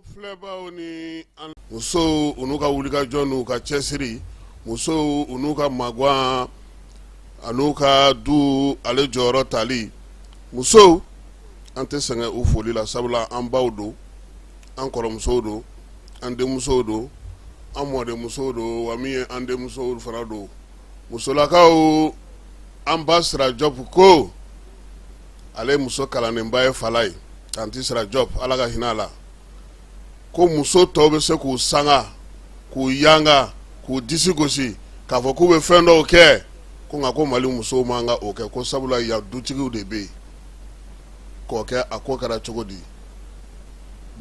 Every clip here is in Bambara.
An filɛbaaw ni an musow u n'u ka wulikajɔ n'u ka cɛsiri musow u n'u ka magan ani u ka du ale jɔyɔrɔ tali musow an tɛ sɛgɛn u foli la sabula an baw don an kɔrɔmusow don an denmusow don an mɔdenmusow don wa min ye an denmusow fana don musolakaw an ba sira jɔpu ko ale muso kalanlenba ye falayi tanti sira jɔpu ala ka hinɛ a la ko muso tɔw bɛ se k'u sanga k'u yanga k'u disi gosi k'a fɔ k'u bɛ fɛn dɔw kɛ ko nka ko mali musow man ka o kɛ ko sabula ya dutigiw de bɛ ko kɛ a ko kɛra cogo di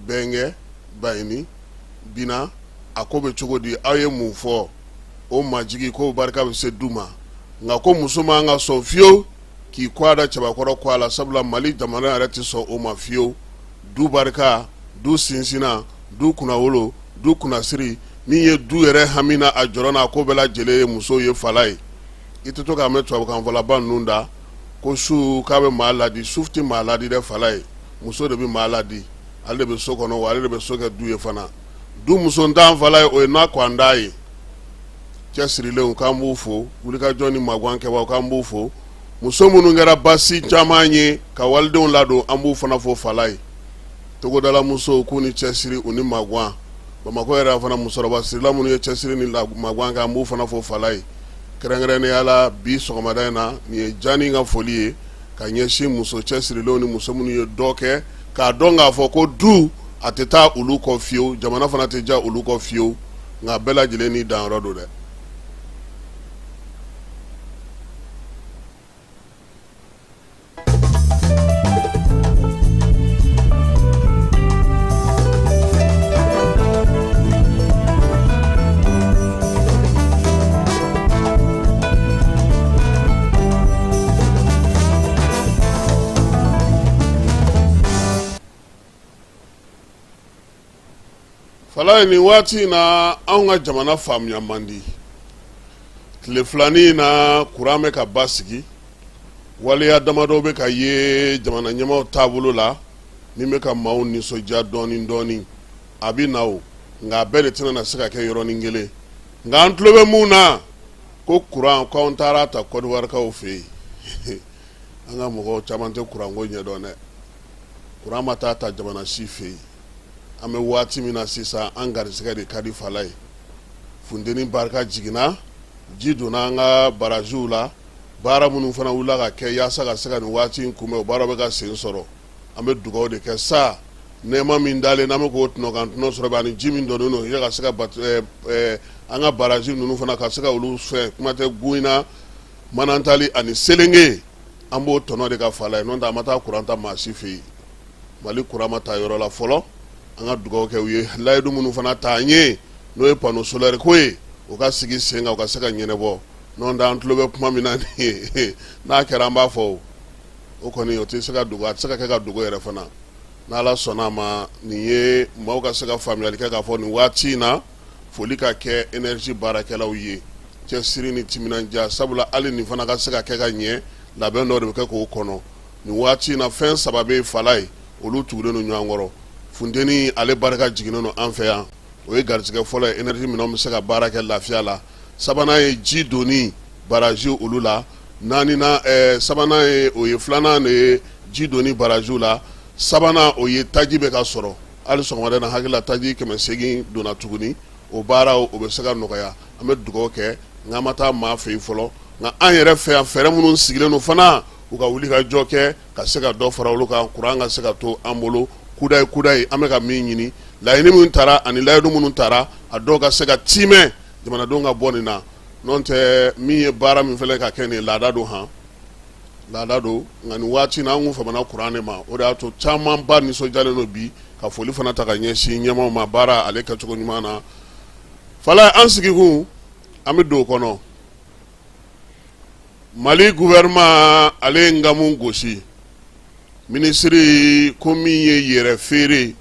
bɛnkɛ bayini bi na a ko bɛ cogo di aw ye mun fɔ o majigin ko barika bɛ se du ma nka ko muso man ka sɔn fiyewu k'i kɔgɔ da cɛbakɔrɔ kɔgɔ la sabula mali jamana yɛrɛ tɛ sɔn o ma fiyewu du barika du sinsinnan du kunnawolo du kunnasiri min ye du yɛrɛ hami n'a jɔrɔ n'a ko bɛɛ lajɛlen ye muso ye falayi i tɛ to k'a mɛn tubabukanfɔlaba ninnu da ko su k'a bɛ maa ladi su tɛ maa ladi dɛ falayi muso de bɛ maa ladi ale de bɛ so kɔnɔ wa ale de bɛ so kɛ du ye fana du musontan falayi o ye n'a ko an d'a ye cɛsirilen k'an b'u fo wulikajɔ ni magan kɛ k'an b'u fo muso minnu kɛra ba sinjanman ye ka walidenw ladon an b'u fana fo falayi togodalamuso k'u ni cɛsiri u ni magan bamakɔ yɛrɛ fana musokɔrɔba sirila minnu ye cɛsiri ni magan kan an b'u fana fo falayi kɛrɛnkɛrɛnnenya la bi sɔgɔmada in na nin ye jɔnnin ka foli ye ka ɲɛsin muso cɛsirilenw ni muso minnu ye dɔ kɛ k'a dɔn k'a fɔ ko du a tɛ taa olu kɔ fiyewu jamana fana tɛ diya olu kɔ fiyewu nka bɛɛ lajɛlen ni danyɔrɔ don dɛ Falayi nin waati in na an ka jamana faamuya man di tile filanin in na kuran bɛ ka basigi waleya damadɔ bɛ ka ye jamana ɲɛmaaw taabolo la min bɛ ka maaw nisɔndiya dɔɔnin dɔɔnin a bɛ na nka a bɛɛ de tɛna na se ka kɛ yɔrɔnin kelen nka an tulo bɛ mun na ko kuran ko anw taara a ta kɔdiwarikaw fɛ yen an ka mɔgɔw caman tɛ kuranko ɲɛdɔn dɛ kuran ma taa ta jamana si fɛ yen an bɛ waati min na sisan an garisɛgɛ de ka di falayi funteni barika jiginna ji donna an ka baraziw la baara minnu fana wulila ka kɛ yaasa ka se ka nin waati in kunbɛn o baaraw bɛ ka sen sɔrɔ an bɛ dugawu de kɛ sa nɛɛma min dalen an bɛ k'o tɔnɔ kan tɔnɔ sɔrɔ bɛ ani ji min donnen don yala ka se ka bato ɛɛ ɛɛ an ka barrage ninnu fana ka se ka olu fɛ kuma tɛ Gouina Manantali ani Selenge an b'o tɔnɔ de kan fala ye n'o tɛ an ma taa courant ta maa si fɛ yen Mali courant ma ta yɔrɔ la fɔlɔ an ka dugawu kɛ u ye layidu minnu fana ta an ye n'o ye panneau solaire ko ye o ka sigi sen kan o ka se ka ɲɛnabɔ n'o tɛ an tulo bɛ kuma min na nin ye n'a kɛra an b'a fɔ o. o kɔni o tɛ se ka dogo a tɛ se ka kɛ ka dogo yɛrɛ fana n'Ala sɔnna a ma nin ye maaw ka se ka faamuyali kɛ k'a fɔ nin waati in na foli ka kɛ énergie baarakɛlaw ye cɛsiri ni timinandiya sabula hali nin fana ka se ka kɛ ka ɲɛ labɛn dɔ de bɛ kɛ k'o kɔnɔ nin waati in na fɛn saba bɛ fala ye olu tugulen don ɲɔgɔn kɔrɔ funteni ale barika jiginnen don an fɛ yan o ye garisɛgɛ fɔlɔ ye énergie minɛnw bɛ se ka baara kɛ lafiya la sabanan ye ji donni baraji olu la naaninan, sabanan ye o ye filanan de ye ji donni barajiw la sabanan o ye taji bɛ ka sɔrɔ hali sɔgɔmada na hakili la taji kɛmɛ seegin donna tuguni o baara o bɛ se ka nɔgɔya an bɛ dugawu kɛ nka an ma taa maa fɛ yen fɔlɔ nka an yɛrɛ fɛ yan fɛɛrɛ minnu sigilen don fana u ka wuli ka jɔ kɛ ka se ka dɔ fara olu kan kuran ka se ka to an bolo kudayi kudayi an bɛ ka min ɲini laɲini minnu taara ani layidu minnu taara a dɔw ka se ka tiimɛ jamanadenw ka bɔ nin na N'o tɛ min ye baara min filɛ ka kɛ nin laada don han laada don nka nin waati na an kun famana kuran de ma o de y'a to caman ba nisɔndiyalen don bi ka foli fana ta ka ɲɛsin ɲɛmaaw ma baara ale kɛcogo ɲuman na fala ye an sigikun an bɛ don o kɔnɔ Mali gouvernement ale ye ngamu gosi minisiriri ko min ye yɛrɛ feere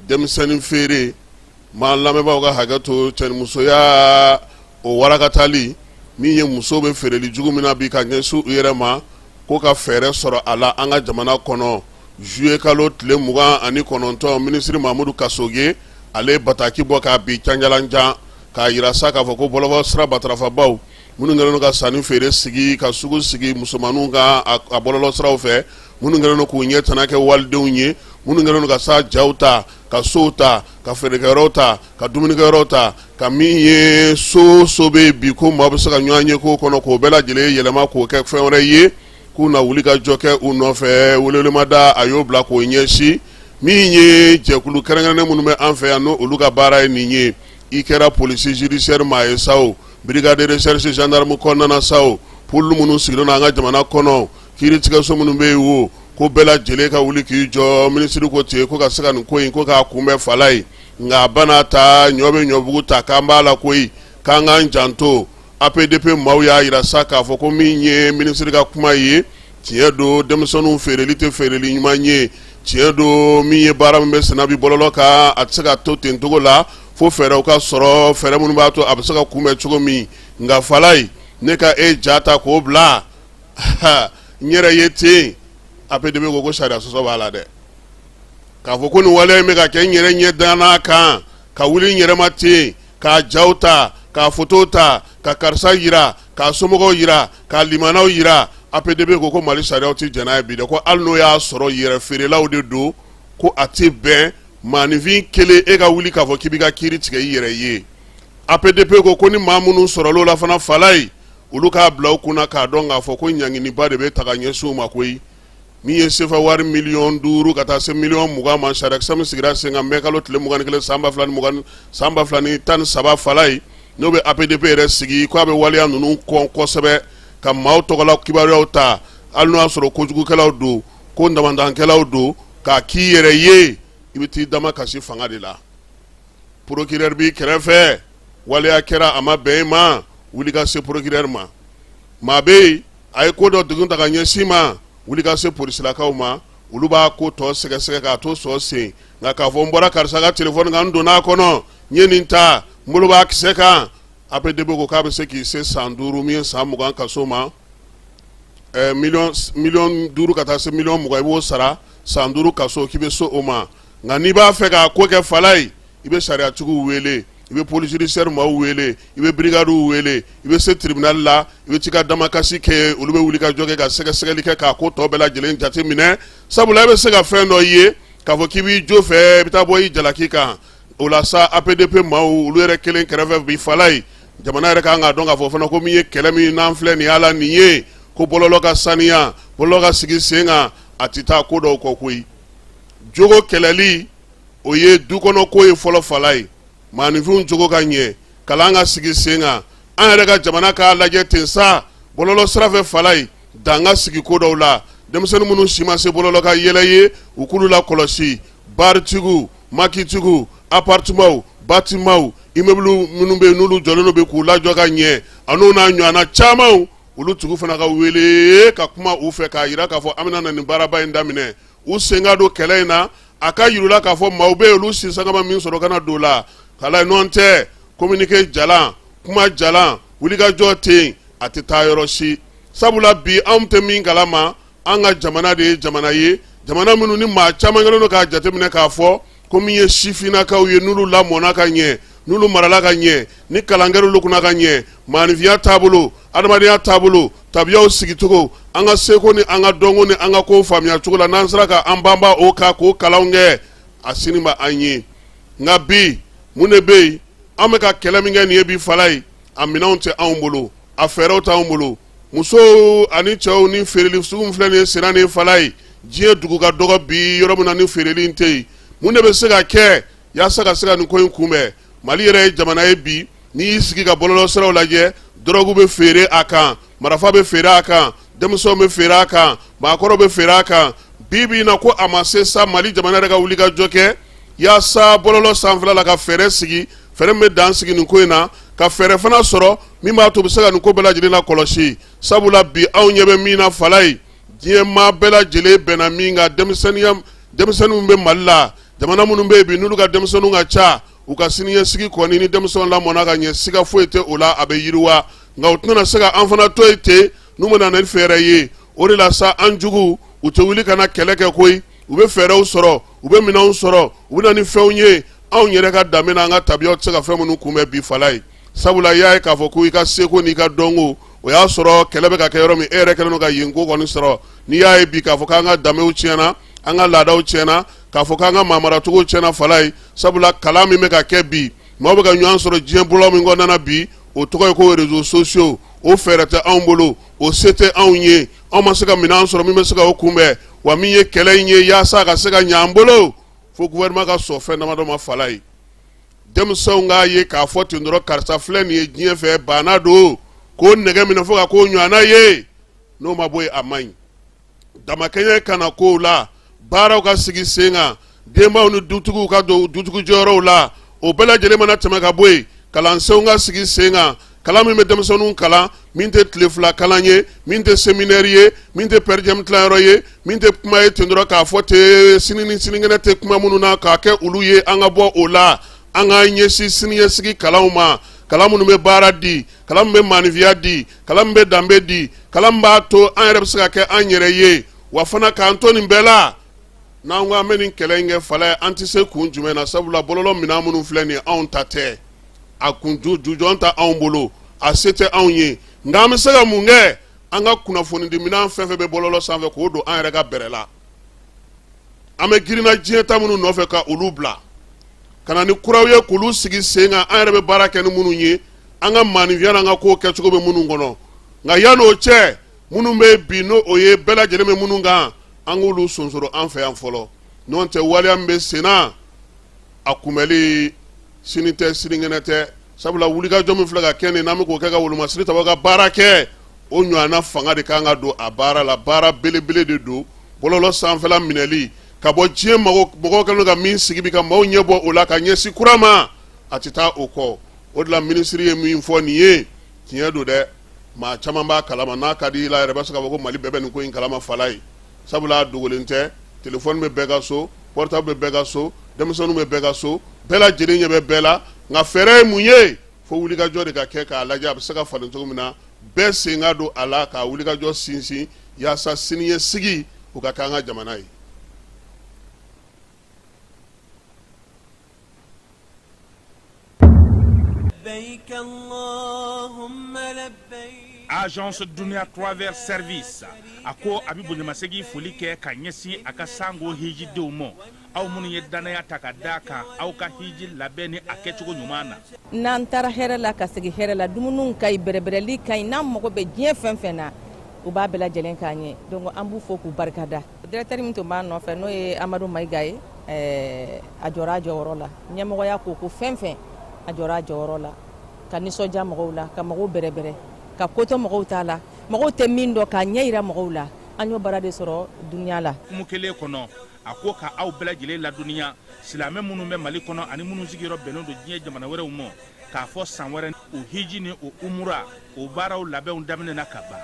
denmisɛnnin feere Maa lamɛnbaaw ka hakɛ to cɛnimusoya o warakatali min ye muso bɛ feereli jugu min na bi ka ɲɛsin u yɛrɛ ma ko ka fɛɛrɛ sɔrɔ a la an ka jamana kɔnɔ zuye kalo tile mugan ani kɔnɔntɔn minisiriri Mamadu Kasoge ale ye bataki bɔ k'a bin canjalanjan k'a jira sa k'a fɔ ko bɔlɔlɔ sira matarafabaaw minnu kɛlen don ka sanni feere sigi ka sugu sigi musomanninw kan a bɔlɔlɔ siraw fɛ minnu kɛlen don k'u ɲɛtana kɛ walidenw ye minnu kɛlen don ka sa jaw ta ka sow ta ka feerekɛyɔrɔw ta ka dumunikɛyɔrɔw ta ka min ye so so bɛ bi ko maa bɛ se ka ɲɔgɔn ye ko kɔnɔ k'o bɛɛ lajɛlen yɛlɛma k'o kɛ fɛn wɛrɛ ye k'u na wuli ka jɔ kɛ u nɔfɛ welewelemada a y'o bila k'o ɲɛsin min ye jɛkulu kɛrɛnkɛrɛnnen minnu bɛ an fɛ yan n' olu ka baara ye nin ye i kɛra polisi zidisiyɛri maa ye sa o brigade recherche gendarme kɔnɔna na sa o pôle minnu sigilen don an ka jamana kɔnɔ Kiritigɛso minnu bɛ yen o ko bɛɛ lajɛlen ka wuli k'i jɔ minisiri ko ten ko ka se ka nin ko in kɔn k'a kunbɛn falaye nka a bana ta ɲɔ bɛ ɲɔbugu ta k'an b'a la koyi k'an k'an janto apdp maaw y'a jira sa k'a fɔ ko min ye minisiri ka kuma ye tiɲɛ don denmisɛnninw feereli tɛ feereli ɲuman ye tiɲɛ don min ye baara min bɛ senna bi bɔlɔlɔ kan a tɛ se ka to ten cogo la fo fɛɛrɛw ka sɔrɔ fɛɛrɛ minnu b'a to a bɛ se ka kunbɛn cogo min nka falaye ne ka e ja ta k'o bila n yɛrɛ ye ten apdp ko ko sariya sɔsɔ b'a la dɛ k'a fɔ ko nin waleya in bɛ ka kɛ n yɛrɛ ɲɛ dalen a kan ka wuli n yɛrɛ ma ten k'a jaw ta k'a foto ta ka karisa jira k'a somɔgɔw jira k'a limanaw jira apdp ko ko mali sariyaw tɛ jɛn n'a ye bi dɛ ko hali n'o y'a sɔrɔ yɛrɛ feerelaw de don ko a tɛ bɛn maaninfin kelen e ka wuli k'a fɔ k'i b'i ka kiri tigɛ i yɛrɛ ye apdp ko ko ni maa minnu sɔrɔl'o la fana falaye olu k'a bila u kunna k'a dɔn k'a fɔ ko ɲanginiba de bɛ ta ka ɲɛsin u ma koyi min ye sefa wari miliyɔn duuru ka taa se miliyɔn mugan ma sariya kisɛ min sigira sen kan mɛkalo tile mugan ni kelen san ba fila ni mugan san ba fila ni tan ni saba falaye n'o bɛ apdp yɛrɛ sigi ko a bɛ waleya ninnu kɔn kosɛbɛ ka maaw tɔgɔla kibaruyaw ta hali n'o y'a sɔrɔ kojugukɛlaw don ko ndamadankɛlaw don k'a k'i yɛrɛ ye i bɛ t'i dama kasi fanga de la procureur b'i kɛrɛfɛ waleya kɛra a ma bɛn i ma wuli ka se procureur ma maa bɛ yen a ye ko dɔ degun ta ka ɲɛsin ma wuli ka se polisilakaw ma olu b'a ko tɔ sɛgɛsɛgɛ k'a to sɔ sen nka k'a fɔ n bɔra karisa ka telefɔni kan n donna a kɔnɔ n ye nin ta n bolo b'a kisɛ kan apdp ko k'a bɛ se k'i se san duuru min ye san mugan kaso ma mi miliyɔn duuru ka taa se miliyɔn mugan i b'o sara san duuru kaso k'i bɛ so o ma nka n'i b'a fɛ k'a ko kɛ falaye i bɛ sariyatigiw wele i bɛ police judiciaire maaw wele i bɛ birigadiw wele i bɛ se tiribinali la i bɛ t'i ka dama kasi kɛ olu bɛ wuli ka jɔ kɛ ka sɛgɛsɛgɛli kɛ k'a ko tɔ bɛɛ lajɛlen jate minɛ sabula i bɛ se ka fɛn dɔ i ye k'a fɔ k'i b'i jo fɛ i bɛ taa bɔ i jalaki kan o la sa apdp maaw olu yɛrɛ kelen kɛrɛfɛ bi falaye jamana yɛrɛ kan k'a dɔn k'a fɔ fana ko min ye kɛlɛ min n'an filɛ nin y'a la nin ye ko bɔlɔlɔ ka saniya bɔlɔlɔ ka sigi sen kan a tɛ taa ko dɔw kɔ koyi jogo kɛlɛli o ye dukɔnɔko ye fɔlɔ falaye maaninfinw jogo ka ɲɛ kalan ka sigi sen kan an yɛrɛ ka jamana k'a lajɛ ten sa bɔlɔlɔ sira fɛ falaye dan ka sigi ko dɔw la denmisɛnnin minnu si ma se bɔlɔlɔ ka yɛlɛ ye u k'olu lakɔlɔsi baritigiw makitigiw aparitemanw batimanw immeuble minnu bɛ yen n'olu jɔlen don bi k'u lajɔ ka ɲɛ an'u n'a ɲɔgɔnna camanw olu tigiw fana ka wele ka kuma u fɛ k'a jira k'a fɔ an bɛna na nin baaraba in daminɛ u sen ka don kɛlɛ in na a ka yira k'a fɔ maaw bɛ olu si sagama min sɔrɔ kana don la ka la nɔntɛ kominike jalan kuma jalan wulikajɔ ten a tɛ taa yɔrɔ si sabula bi anw tɛ min kalama an ka jamana de ye jamana ye jamana minnu ni maa caman kɛlen don k'a jateminɛ k'a fɔ ko min ye sifinnakaw ye n'olu lamɔna ka ɲɛ n'olu marala ka ɲɛ ni kalan kɛra olu kunna ka ɲɛ maanifinya taabolo adamadenya taabolo tabiyaw sigicogo an ka seko ni an ka dɔnko ni an ka kow faamuya cogo la n'an sera ka an banba o kan k'o kalanw kɛ a sini ma an ye nka bi mun de bɛ yen an bɛ ka kɛlɛ min kɛ nin ye bi fala ye a minɛnw tɛ anw bolo a fɛɛrɛw t'anw bolo musow ani cɛw ni feereli sugu min filɛ nin ye senna ni fala ye diɲɛ dugu ka dɔgɔ bi yɔrɔ min na ni feereli in tɛ yen mun de bɛ se ka kɛ yaasa ka se ka nin ko in kunbɛn mali yɛrɛ ye jamana ye bi n'i y'i sigi ka bɔlɔlɔ siraw lajɛ dɔrɔgu bɛ feere a kan marafa bɛ feere a kan denmisɛnw bɛ feere a kan maakɔrɔw bɛ feere a kan bi bi in na ko a ma se sa mali jamana yɛrɛ ka wuli ka jɔ kɛ yaasa bɔlɔlɔ sanfɛla la ka fɛɛrɛ sigi fɛɛrɛ min bɛ dan sigi nin ko in na ka fɛɛrɛ fana sɔrɔ min b'a to bɛ se ka nin ko bɛɛ lajɛlen la kɔlɔsi sabula bi anw ɲɛ bɛ min na fala ye diɲɛ maa bɛɛ lajɛlen bɛnna min kan denmisɛnninya denmisɛnninw bɛ mali la jamana minnu bɛ yen bi n'olu ka denmisɛnninw ka ca u ka siniɲɛsigi kɔni ni denmisɛnw lamɔna ka ɲɛ siga foyi tɛ o la a bɛ yiriwa nka u tɛna se ka an fana to yen ten n'u bɛ na ni fɛɛrɛ ye o de la sa an jugu u tɛ wuli ka na kɛlɛ kɛ koyi u bɛ fɛɛrɛw sɔrɔ u bɛ minɛnw sɔrɔ u bɛ na ni fɛnw ye anw yɛrɛ ka danbe ni an ka tabiyaw tɛ se ka fɛn minnu kunbɛn bi fala ye sabula i y'a ye k'a fɔ ko i ka seko n'i ka dɔnko o y'a sɔrɔ kɛlɛ bɛ ka kɛ yɔrɔ min e yɛrɛ kɛlen don ka yen ko kɔni sɔrɔ n'i y'a ye bi k'a fɔ k'an ka danbew tiɲɛna an ka laadaw tiɲɛna k'a fɔ k'an ka maamaracogo tiɲɛna fala ye sabula kalan min bɛ ka kɛ bi maaw bɛ ka ɲɔgɔn sɔrɔ diɲɛ bolo min kɔnɔna bi o tɔgɔ ye ko rezo sosiyo o fɛɛrɛ tɛ anw bolo o se tɛ anw ye anw ma se ka minɛn sɔrɔ min bɛ se ka o kunbɛn wa min ye kɛlɛ in ye yaasa ka se ka ɲɛ an bolo fo gouvernement ka sɔn fɛn damadɔ ma fala ye denmisɛnw k'a ye k'a fɔ ten dɔrɔn karisa filɛ nin ye diɲɛ fɛ baana don k'o nɛgɛ minɛ fo ka k'o ɲɔgɔnna ye n'o ma bɔ yen a man ɲi damakɛɲɛ ka na kow la baaraw ka sigi sen kan denbaw ni dutigiw ka don dutigi jɔyɔrɔw la o bɛɛ lajɛlen mana tɛmɛ ka bɔ yen kalansenw ka sigi sen kan kalan min bɛ denmisɛnninw kalan min tɛ tile fila kalan ye min tɛ seminɛri ye min tɛ pɛrijɛmu tilayɔrɔ ye min tɛ kuma ye ten dɔrɔn k'a fɔ ten sini ni sinikɛnɛ tɛ kuma minnu na k'a kɛ olu ye an ka bɔ o la an ka ɲɛsin siniɲɛsigi kalanw ma kalan minnu bɛ baara di kalan min bɛ maanifiya di kalan min bɛ danbe di kalan min b'a to an yɛrɛ bɛ se ka kɛ an yɛrɛ ye wa fana k'an to nin bɛɛ la n'an ko an bɛ nin kɛlɛ in kɛ fala ye an tɛ se kun jumɛn na sabula bɔlɔlɔ minɛn minnu filɛ nin ye anw ta tɛ a kun jujɔn t'anw bolo a se tɛ anw ye nka an bɛ se ka mun kɛ an ka kunnafonidi minɛn fɛn fɛn bɛ bɔlɔlɔ sanfɛ k'o don an yɛrɛ ka bɛrɛ la an bɛ girinna diɲɛ ta minnu nɔfɛ ka olu bila ka na ni kuraw ye k'olu sigi sen kan an yɛrɛ bɛ baara kɛ ni minnu ye an ka maaninfinya n'an ka kow kɛcogo bɛ minnu kɔnɔ nka yan'o cɛ minnu bɛ bi n'o ye bɛɛ lajɛlen bɛ minnu kan an k'olu sonsoro an fɛ yan fɔlɔ n'o tɛ waleya min bɛ senna a kunbɛli sini tɛ sinikɛnɛ tɛ sabula wulikajɔ min filɛ ka kɛ nin n'an bɛ k'o kɛ ka wolomasiri ta ka baara kɛ o ɲɔgɔnna fanga de kan ka don a baara la baara belebele de don bɔlɔlɔ sanfɛla minɛli ka bɔ diɲɛ mɔgɔ kɛlen ka min sigi bi ka maaw ɲɛ bɔ o la ka ɲɛsin kura ma a tɛ taa o kɔ o de la minisiri ye min fɔ nin ye tiɲɛ don dɛ maa caman b'a kalama n'a ka di i la yɛrɛ bɛ se k'a fɔ ko mali bɛɛ bɛ nin ko in kalama fala ye sabula a dogolen tɛ telefɔni bɛ bɛɛ ka so portable bɛ bɛɛ ka so denmisɛnninw bɛ bɛɛ ka so bɛɛ lajɛlen ɲɛ bɛ bɛɛ la nka fɛɛrɛ ye mun ye fo wulikajɔ de ka kɛ k'a lajɛ a bɛ se ka falen cogo min na bɛɛ sen ka don a la k'a wulikajɔ sinsin yaasa siniɲɛsigi o ka kɛ an ka jamana ye agence dunia travel service a ko a bɛ bonyamasegin foli kɛ ka ɲɛsin a ka sango hijidenw ma aw minnu ye dannaya ta ka d'a kan aw ka hiji labɛn ni a kɛcogo ɲuman na n'an taara hɛrɛ la ka segin hɛrɛ la dumuniw ka ɲi bɛrɛbɛrɛli ka ɲi n'an mago bɛ diɲɛ fɛn fɛn na u b'a bɛɛ lajɛlen k'an ye donc an b'u fo k'u barikada Directeur min tun b'an nɔfɛ n'o ye Amadu Mayiga ye ɛɛ a jɔra a jɔyɔrɔ la ɲɛmɔgɔya ko ko fɛn fɛn a jɔra a jɔyɔrɔ la ka nisɔndiya mɔgɔw la ka mɔgɔw bɛrɛbɛrɛ ka ko to mɔgɔw ta la mɔgɔw tɛ min dɔn k'a ɲɛ jira mɔgɔw la an y'o baara de sɔrɔ dunuya la hukumu kelen kɔnɔ a ko ka aw bɛɛ lajɛlen ladɔnniya silamɛ minnu bɛ mali kɔnɔ ani minnu sigiyɔrɔ bɛnnen don diɲɛ jamana wɛrɛw ma k'a fɔ san wɛrɛ o hiji ni o umura o baaraw labɛnw daminɛna ka ban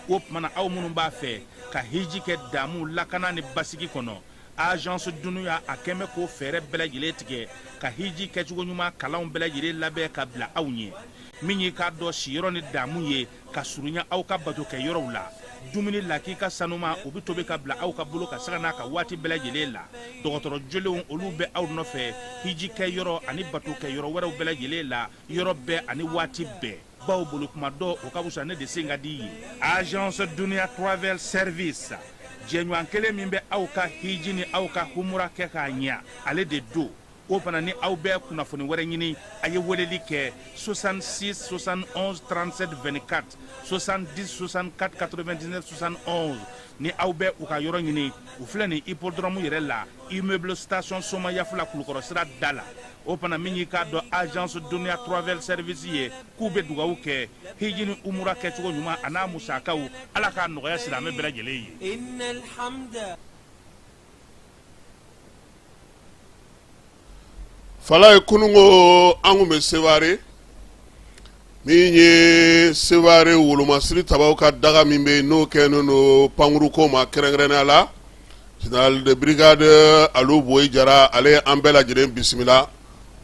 o tumana aw minnu b'a fɛ ka hiji kɛ damu lakana ni basigi kɔnɔ agence dunuya a kɛlen bɛ k'o fɛɛrɛ bɛɛ lajɛlen tigɛ ka hiji kɛcogo ɲuman kalanw bɛɛ lajɛlen labɛn ka bila aw ɲɛ min y'i k'a dɔn siyɔrɔ ni damu ye ka surunya aw ka bato kɛ yɔrɔw la dumuni lakika sanuman o bɛ tobi ka bila aw ka bolo kan sanga n'a ka waati bɛɛ lajɛlen la dɔgɔtɔrɔ jolenw olu bɛ aw nɔfɛ hiji kɛ yɔrɔ ani bato kɛ yɔrɔ wɛrɛw bɛɛ lajɛlen la yɔrɔ bɛɛ ani waati bɛɛ baw bolo kuma dɔ o ka wusa ne de sen ka di ye agence duniya travel service jɛɲɔgɔn kelen min bɛ aw ka hiji ni aw ka humura kɛ k'a ɲɛ ale de don o fana ni aw bɛ kunnafoni wɛrɛ ɲini a ye weleli kɛ 66 71 37 24 70 64 99 71 ni aw bɛ u ka yɔrɔ ɲini u filɛ nin hippodrɔmu yɛrɛ la immeuble station soma yafula kulukɔrɔ sira da la o fana min y'i k'a dɔn agence duniya travel service ye k'u bɛ dugawu kɛ hiji ni umura kɛcogo ɲuman a n'a musakaw ala k'a nɔgɔya silamɛ bɛɛ lajɛlen ye falayi kununko an tun bɛ seware Min ye Sevare wolomasiri tabaaw ka daga min bɛ yen n'o kɛlen don pankuru ko ma kɛrɛnkɛrɛnnenya la, General de brigade Alu Boyi Jara ale ye an bɛɛ lajɛlen bisimila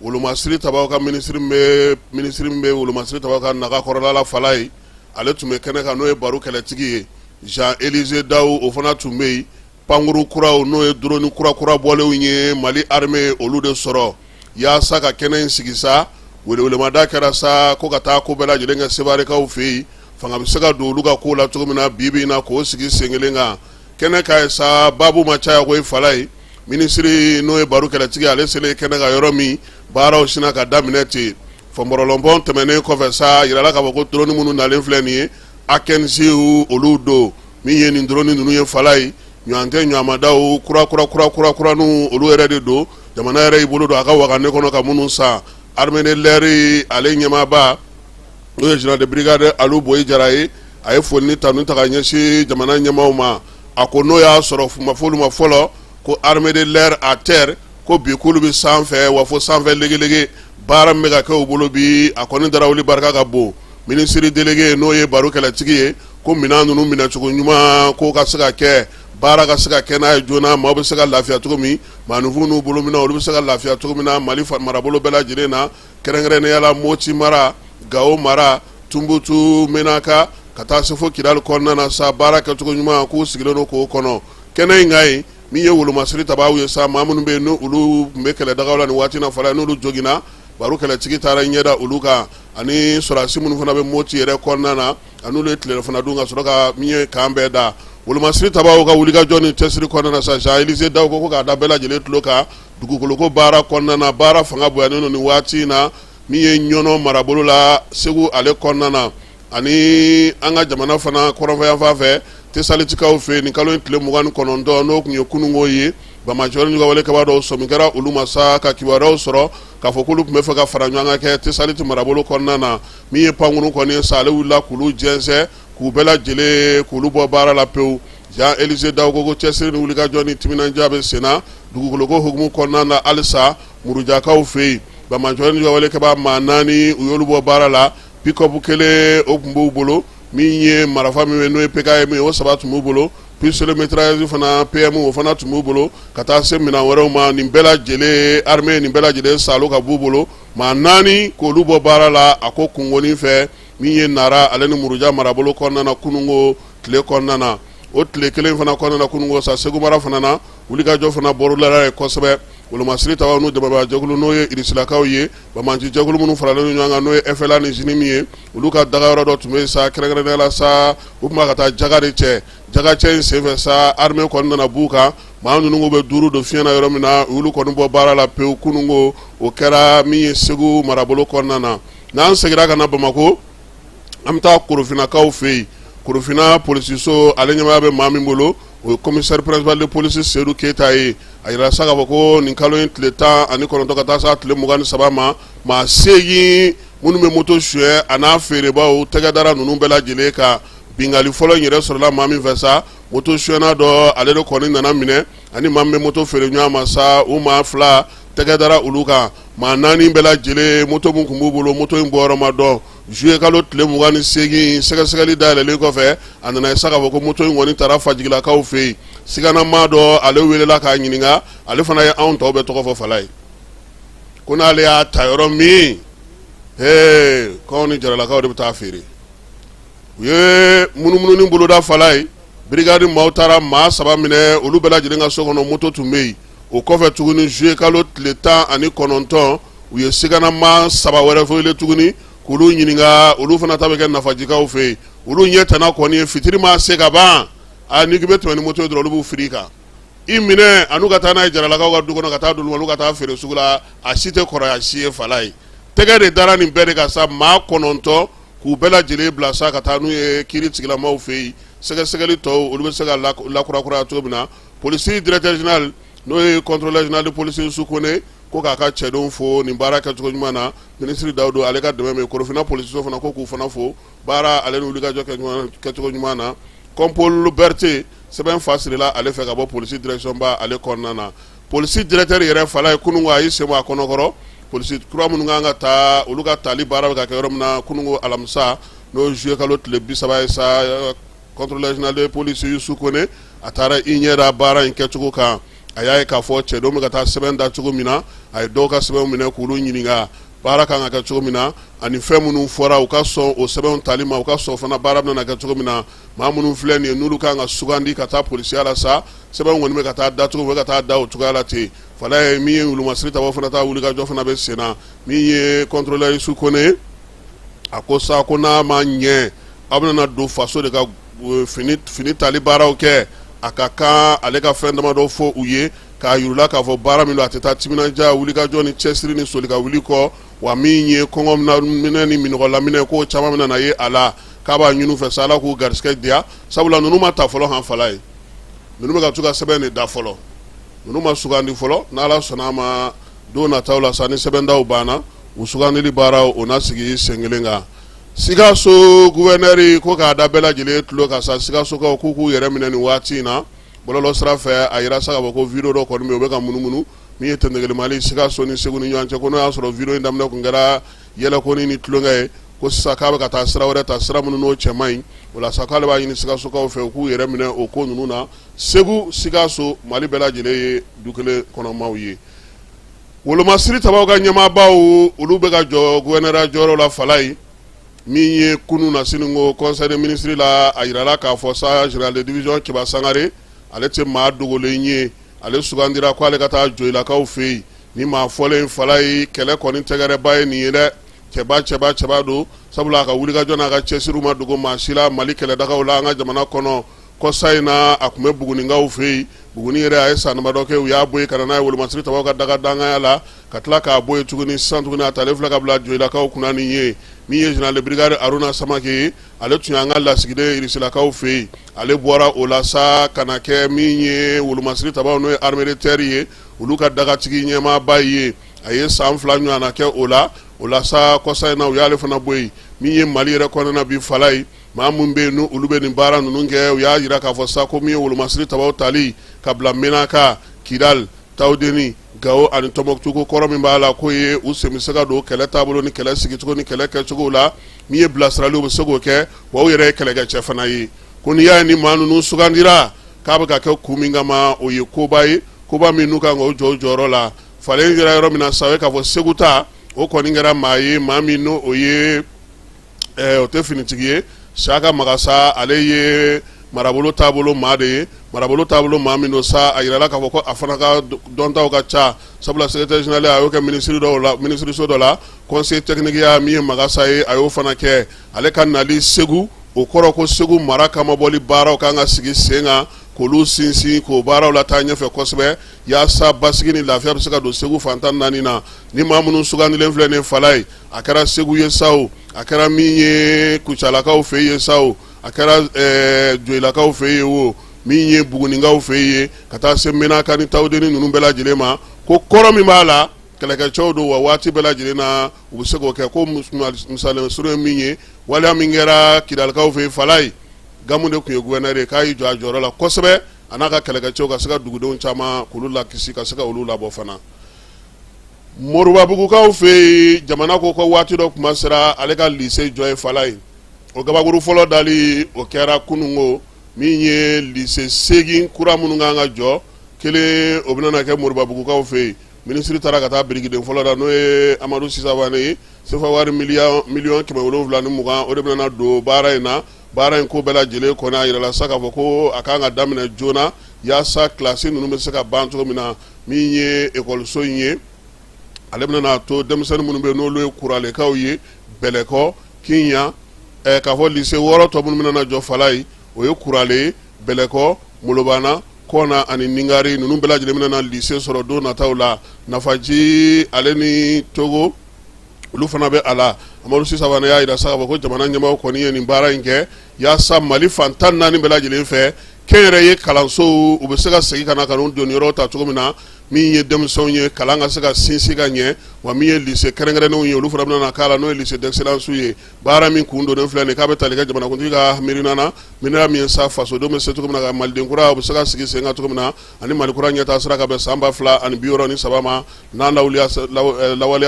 wolomasiri tabaaw ka minisiri min bɛ minisiri min bɛ wolomasiri tabaaw ka naga kɔrɔla la Falayi, ale tun bɛ kɛnɛ kan n'o ye Baru kɛlɛtigi ye Jean Elisée Dawu o fana tun bɛ yen pankuru kuraw n'o ye dɔrɔni kura kura bɔlenw ye mali armée y'olu de sɔrɔ yaasa ka kɛnɛ in sigi sa welewelemada kɛra sa ko ka taa ko bɛɛ lajɛlen kɛ sewarekaw fɛ yen fanga bɛ se ka don olu ka ko la cogo min na bi bi in na k'o sigi sen kelen kan kɛnɛ kan yen sa babu ma caya ko ye falayi minisiri n'o ye baru kɛlɛtigi ale selen kɛnɛ kan yɔrɔ min baaraw sinna ka daminɛ ten fɔnbɔrɔlɔnbɔn tɛmɛnen kɔfɛ sa yirala k'a fɔ ko dɔrɔnin minnu nalen filɛ nin ye akinciw olu don min ye nin dɔrɔnin ninnu ye falayi ɲɔgɔn tɛ ɲamadaw kura kura kura kura kura ni olu yɛrɛ de don jamana yɛrɛ y'i bolo don a ka waganɛ kɔnɔ ka minnu san armée de l'air ale ɲɛmaaba n'o ye général de brigade alu bɔyi jara ye a ye foli ni tanu ta ka ɲɛsin jamana ɲɛmaaw ma a ko n'o y'a sɔrɔ a fɔ olu ma fɔlɔ ko armée de l'air à terre ko bi k'olu bɛ sanfɛ wa fo sanfɛ legelege baara bɛ ka kɛ u bolo bi a kɔni darawuli barika ka bon Minisiri délégué n'o ye Baru kɛlɛtigi ye ko minɛn ninnu minɛcogo ɲuman k'o ka se ka kɛ baara ka se ka kɛ n'a ye joona maaw bɛ se ka lafiya cogo min maaninfinw n'u bolominɛn olu bɛ se ka lafiya cogo min na Mali marabolo bɛɛ lajɛlen na kɛrɛnkɛrɛnnenya la Moti mara Gao mara Tunbutu menaka ka taa se fo Kidali kɔnɔna na sa baara kɛcogo ɲuman k'u sigilen don k'o kɔnɔ kɛnɛ in kan yen min ye wolomasiri tabaaw ye sa maa minnu bɛ yen n'olu tun bɛ kɛlɛdagaw la nin waati in na Fala n'olu joginna Baru kɛlɛtigi taara i ɲɛ da olu kan ani sɔrɔdasi minnu fana bɛ Moti yɛrɛ kɔnɔna na a ni olu ye tilelafana dun ka sɔrɔ ka min ye kan bɛɛ da wolomasiri tabaaw ka wulikajɔ ni cɛsiri kɔnɔna na sa Jean Elisée Daw ko ko k'a da bɛɛ lajɛlen tulo kan dugukoloko baara kɔnɔna na baara fanga bonyanen don nin waati in na min ye Ɲɔnɔ marabolo la Segu ale kɔnɔna na ani an ka jamana fana kɔrɔnfɛyanfan fɛ Tesalitikaw fɛ nin kalo in tile mugan ni kɔnɔntɔn n'o tun ye kununko ye Bamajɔni ka wale kɛbaa dɔw sɔmi kɛra olu ma sa ka kibaruyaw sɔrɔ k'a fɔ k'olu tun bɛ fɛ ka fara ɲɔgɔn kan kɛ Tesaliti marabolo kɔnɔna na min ye pankuru kɔni sa ale wulila k'olu jɛnsɛn k'u bɛɛ lajɛlen k'olu bɔ baara la pewu Jean Élisée Dao ko ko cɛsiri ni wulikajɔ ni timinandiya bɛ sen na dugukoloko hukumu kɔnɔna na halisa Murujakaw fɛ yen banbaanci ni juguwalekɛbaa maa naani u y'olu bɔ baara la pick-up kelen o tun b'u bolo min ye marafa min bɛ n'o ye PKM ye o saba tun b'u bolo Pistolet mitrailleuse fana PM o fana tun b'u bolo ka taa se minɛn wɛrɛw ma nin bɛɛ lajɛlen armée nin bɛɛ lajɛlen salo ka b'u bolo maa naani k'olu bɔ baara la a ko kungo nin fɛ min ye nara ale ni muruja marabolo kɔnɔna kununko tile kɔnɔna na o tile kelen fana kɔnɔna kununko sa segu mara fana na wulikajɔ fana bolodala yen kosɛbɛ wolomasiri tabaw n'u dɛmɛbaa jɛkulu n'o ye Irisilakaw ye banbaanci jɛkulu minnu faralen ɲɔgɔn kan n'o ye FLA ni JNIM ye olu ka daga yɔrɔ dɔ tun bɛ sa kɛrɛnkɛrɛnnenya la sa u tun bɛ ka taa jaka de cɛ jakacɛ in senfɛ sa armée kɔni nana b'u kan maa ninnu bɛ duuru don fiɲɛ na yɔrɔ min na olu kɔni bɔ baara la pewu kununko o kɛra min ye segu marabolo kɔnɔna na n'an seginna ka na bamakɔ an bɛ taa korofinnakaw fɛ yen korofinna polisiso ale ɲɛmaaya bɛ maa min bolo o ye commissaire principal de police Seydou Keita ye a jirala sa k'a fɔ ko nin kalo in tile tan ani kɔnɔntɔn ka taa se a tile mugan ni saba ma maa seegin minnu bɛ moto suyɛ a n'a feerebaw tɛgɛ dara ninnu bɛɛ lajɛlen ka bingali fɔlɔ yɛrɛ sɔrɔla maa min fɛ sa moto suyɛnna dɔ ale de kɔni nana minɛ ani maa min bɛ moto feere ɲɔgɔn ma sa u maa fila tɛgɛ dara olu kan maa naani bɛɛ lajɛlen moto min tun b'u bolo moto in bɔyɔrɔ ma dɔn Zuye kalo tile mugan ni seegin sɛgɛsɛgɛli dayɛlɛlen kɔfɛ a nana ye sa k'a fɔ ko moto in kɔni taara Fajigilakaw fɛ yen siganamaa dɔ ale welela k'a ɲininka ale fana ye anw tɔw bɛɛ tɔgɔ fɔ fala ye ko n'ale y'a ta yɔrɔ min ko ni jaralakaw de bɛ taa feere u ye munumununi boloda fala ye brigade maaw taara maa saba minɛ olu bɛɛ lajɛlen ka so kɔnɔ moto tun bɛ yen o kɔfɛ tuguni juillet kalo tile tan ani kɔnɔntɔn u ye siganama saba wɛrɛ fɔlɛ tuguni k'olu ɲininka olu fana ta bɛ kɛ nafajikaw fɛ yen olu ɲɛ tana kɔni ye fitiri ma se ka ban a n'i k'i bɛ tɛmɛ ni moto ye dɔrɔn olu b'u firi i kan i minɛ an'u ka taa n'a ye jaralakaw ka du kɔnɔ ka taa d'olu ma olu ka taa feere sugu la a si tɛ kɔrɔya si ye fala ye tɛgɛ de dara nin bɛɛ de kan sa maa kɔnɔntɔn k'u bɛɛ lajɛlen bila sa ka taa n'u ye kiiri tigilamaw fɛ yen sɛgɛsɛgɛli tɔw olu bɛ se ka lakurakuraya cogo min na Polisi directeur général n'o ye contrôleur général de police Youssouf Koné ko k'a ka cɛdenw fo nin baara kɛ cogo ɲuman na minisiri Dawudu ale ka dɛmɛ min korofinna polisiso fana ko k'u fana fo baara ale ni wulikajɔ kɛ cogo ɲuman na compol Berete sɛbɛn fa sirila ale fɛ ka bɔ polisi directionba ale kɔnɔna na polisi directeur yɛrɛ fala ye kununko a y'i sen bɔ a kɔnɔkɔrɔ polisi kura minnu ka kan ka taa olu ka taali baara bɛ ka kɛ yɔrɔ min na kununko alamisa n'o juillet kalo tile bi saba ye sa contrôleur général de police usu kone a taara i ɲɛ da baara in kɛcogo kan a y'a ye k'a fɔ cɛdenw bɛ ka taa sɛbɛn da cogo min na a ye dɔw ka sɛbɛn minɛ k'olu ɲininka baara kan ka kɛ cogo min na ani fɛn minnu fɔra u ka sɔn o sɛbɛnw tali ma u ka sɔn fana baara bɛna kɛ cogo min na maa minnu filɛ nin ye n'olu kan ka sugandi ka taa polisiya la sa sɛbɛn kɔni bɛ ka taa dacogo bɛ ka taa da o cogoya la ten fala ye min ye wolomasiri tabaw fana taa wulikajɔ fana bɛ sen na min ye contrôleur usu kone a ko sa ko n'a ma ɲɛ aw bɛna don faso de ka fini tali baaraw kɛ a ka kan ale ka fɛn damadɔ fɔ u ye k'a yir'u la k'a fɔ baara min don a tɛ taa timinandiya wulikajɔ ni cɛsiri ni soli ka wuli kɔ wa min ye kɔngɔ minɛ ni minɔgɔ laminɛ k'o caman bɛna na ye a la k'a b'a ɲini u fɛ sa ala k'u garisigɛ diya sabula ninnu ma ta fɔlɔ han fala ye ninnu bɛ ka to ka sɛbɛn de da fɔlɔ ninnu ma sugandi fɔlɔ n'ala sɔnna a ma don nataw la sa ni sɛbɛndaw banna u sugandili baara o na sigi sen kelen kan sikaso gouverneur ko k'a da bɛɛ lajɛlen tulo kan sa sikasokaw k'u k'u yɛrɛ minɛ nin waati in na bɔlɔlɔ sira fɛ a jira sa k'a fɔ ko video dɔ kɔni bɛ u bɛ ka munumunu min ye tɛmɛma sikaso ni segu ni ɲɔgɔn cɛ ko n'o y'a sɔrɔ video in daminɛ tun kɛra yɛlɛkonin ni tulonkɛ ye ko sisan k'a bɛ ka taa sira wɛrɛ ta sira minnu n'o cɛ man ɲi o la sa k'ale b'a ɲini sikasokaw fɛ u k'u yɛrɛ minɛ o ko ninnu na segu sikaso mali bɛɛ lajɛlen ye du kelen kɔnɔmaw ye Wolomasiri tabaw ka ɲɛmaabaw olu bɛ ka jɔ gouverneurya jɔyɔrɔ la fala ye min ye kunun na sini ko conseil des ministres la a jirala k'a fɔ sa général de division keba sangare ale tɛ maa dogolen ye ale sugandira ko ale ka taa joyilakaw fɛ yen ni maa fɔlen fala ye kɛlɛ kɔni tɛgɛrɛba ye nin ye dɛ cɛba cɛba cɛba don sabula a ka wulikajɔ n'a ka cɛsiri ma dogo maa si la mali kɛlɛdagaw la an ka jamana kɔnɔ kɔsa in na a tun bɛ bugunikaw fɛ yen buguni yɛrɛ a ye san damadɔ kɛ u y'a bɔ yen ka na n'a ye wolomasiri tabaw ka daga danganya la ka tila k'a bɔ yen tuguni sisan tugun a talen filɛ ka bila joyilakaw kunna nin ye min ye général de brigade aruna samake ye ale tun y'an ka lasigiden irisilakaw fɛ yen ale bɔra o la sa ka na kɛ min ye wolomasiri tabaw n'o ye armée de terre ye olu ka dagatigi ɲɛmaaba ye a ye san fila ɲɔgɔnna kɛ o la o la sa kɔsa in na u y'ale fana bɔ yen min ye mali yɛrɛ kɔnɔna bi fala ye Maa minnu bɛ yen n'olu bɛ nin baara ninnu kɛ u y'a jira k'a fɔ sa ko min ye wolomasiri tabaw tali ka bila menaka kidali tawudeni gawo ani tɔnbɔkutu ko kɔrɔ min b'a la k'o ye u sen bɛ se ka don kɛlɛ taabolo ni kɛlɛ sigicogo ni kɛlɛ kɛcogo la min ye bilasiraliw bɛ se k'o kɛ wa u yɛrɛ ye kɛlɛkɛcɛ fana ye ko n'i y'a ye ni maa ninnu sugandira k'a bɛ ka kɛ kun min kama o ye koba ye koba min n'u kan ka o jɔ o jɔyɔrɔ la falen jira yɔrɔ min na sa o ye k'a fɔ segu ta o kɔni kɛra maa ye maa min n'o ye o tɛ finitigi ye siyaka magasa ale ye marabolo taabolo maa de ye marabolo taabolo maa min don sa a yirala k'a fɔ ko a fana ka dɔntaw ka ca sabula secrétaire général a y'o kɛ minisiri dɔ la minisiriso dɔ la conseiller technique ya min ye magasa ye a y'o fana kɛ ale ka nali segu o kɔrɔ ko segu mara kama bɔli baaraw ka kan ka sigi sen kan k'olu sinsin k'o baaraw lataa ɲɛfɛ kosɛbɛ yaasa basigi ni lafiya bɛ se ka don segu fan tan naani na ni maa minnu sugandilen filɛ nin fala ye a kɛra segu ye sa o a kɛra min ye kucalakaw fɛ ye sa o a kɛra joyilakaw fɛ ye o min ye bugunikaw fɛ ye ka taa se menaka ni tawudeni ninnu bɛɛ lajɛlen ma ko kɔrɔ min b'a la kɛlɛkɛcɛw don wa waati bɛɛ lajɛlen na u bɛ se k'o kɛ ko misali surun ye min ye waleya min kɛra kidalikaw fɛ fala ye gamu de tun ye guvɛnɛri ye k'a y'i jɔ a jɔyɔrɔ la kosɛbɛ a n'a ka kɛlɛkɛcɛw ka se ka dugudenw caman k'olu lakisi ka se ka olu labɔ fana Moribabugukaw fɛ yen jamana ko ko waati dɔ kuma sera ale ka lise jɔ ye fala ye o gabakuru fɔlɔ dali o kɛra kununko min ye lise seegin kura minnu kan ka jɔ kelen o bɛna kɛ moribabugukaw fɛ yen minisiri taara ka taa birikiden fɔlɔ da n'o ye amadu si savane ye sefa wari mili miliyɔn kɛmɛ wolonwula ni mugan o de bɛna don baara in na baara in ko bɛɛ lajɛlen kɔni a yirala sa k'a fɔ ko a ka kan ka daminɛ joona yaasa kilasi ninnu bɛ se ka ban cogo min na min ye ekɔliso in ye ale bɛna a to denmisɛnnin minnu bɛ n'olu ye kuralekaw ye bɛlɛkɔ kiɲan eh, k'a fɔ lise wɔɔrɔ tɔ minnu bɛna jɔ fala ye o ye kurale bɛlɛkɔ molobana kɔna ani ningari ninnu bɛɛ lajɛlen bɛna na lise sɔrɔ don nataw la nafaji ale ni togo olu fana bɛ a la amadu si savane y'a yira sa k'a fɔ ko jamana ɲɛmaaw kɔni ye nin baara in kɛ yaasa mali fan tan naani bɛɛ lajɛlen fɛ kɛnyɛrɛye kalanso u bɛ se ka segin ka na ka n'u doni yɔrɔ ta cogo min na min ye denmisɛnw ye kalan ka se ka sinsin ka ɲɛ wa min ye lise kɛrɛnkɛrɛnnenw ye olu fana bɛna k'a la n'o ye lycée d'excellence ye baara min kun donnen filɛ nin k'a bɛ tali kɛ jamanakuntigi ka miirina na min na min ye sa fasodenw bɛ se cogo min na ka maliden kura u bɛ se ka sigi sen kan cogo min na ani mali kura ɲɛtaa sira ka bɛn san ba fila ani bi wɔɔrɔ ni saba ma n'a lawaleya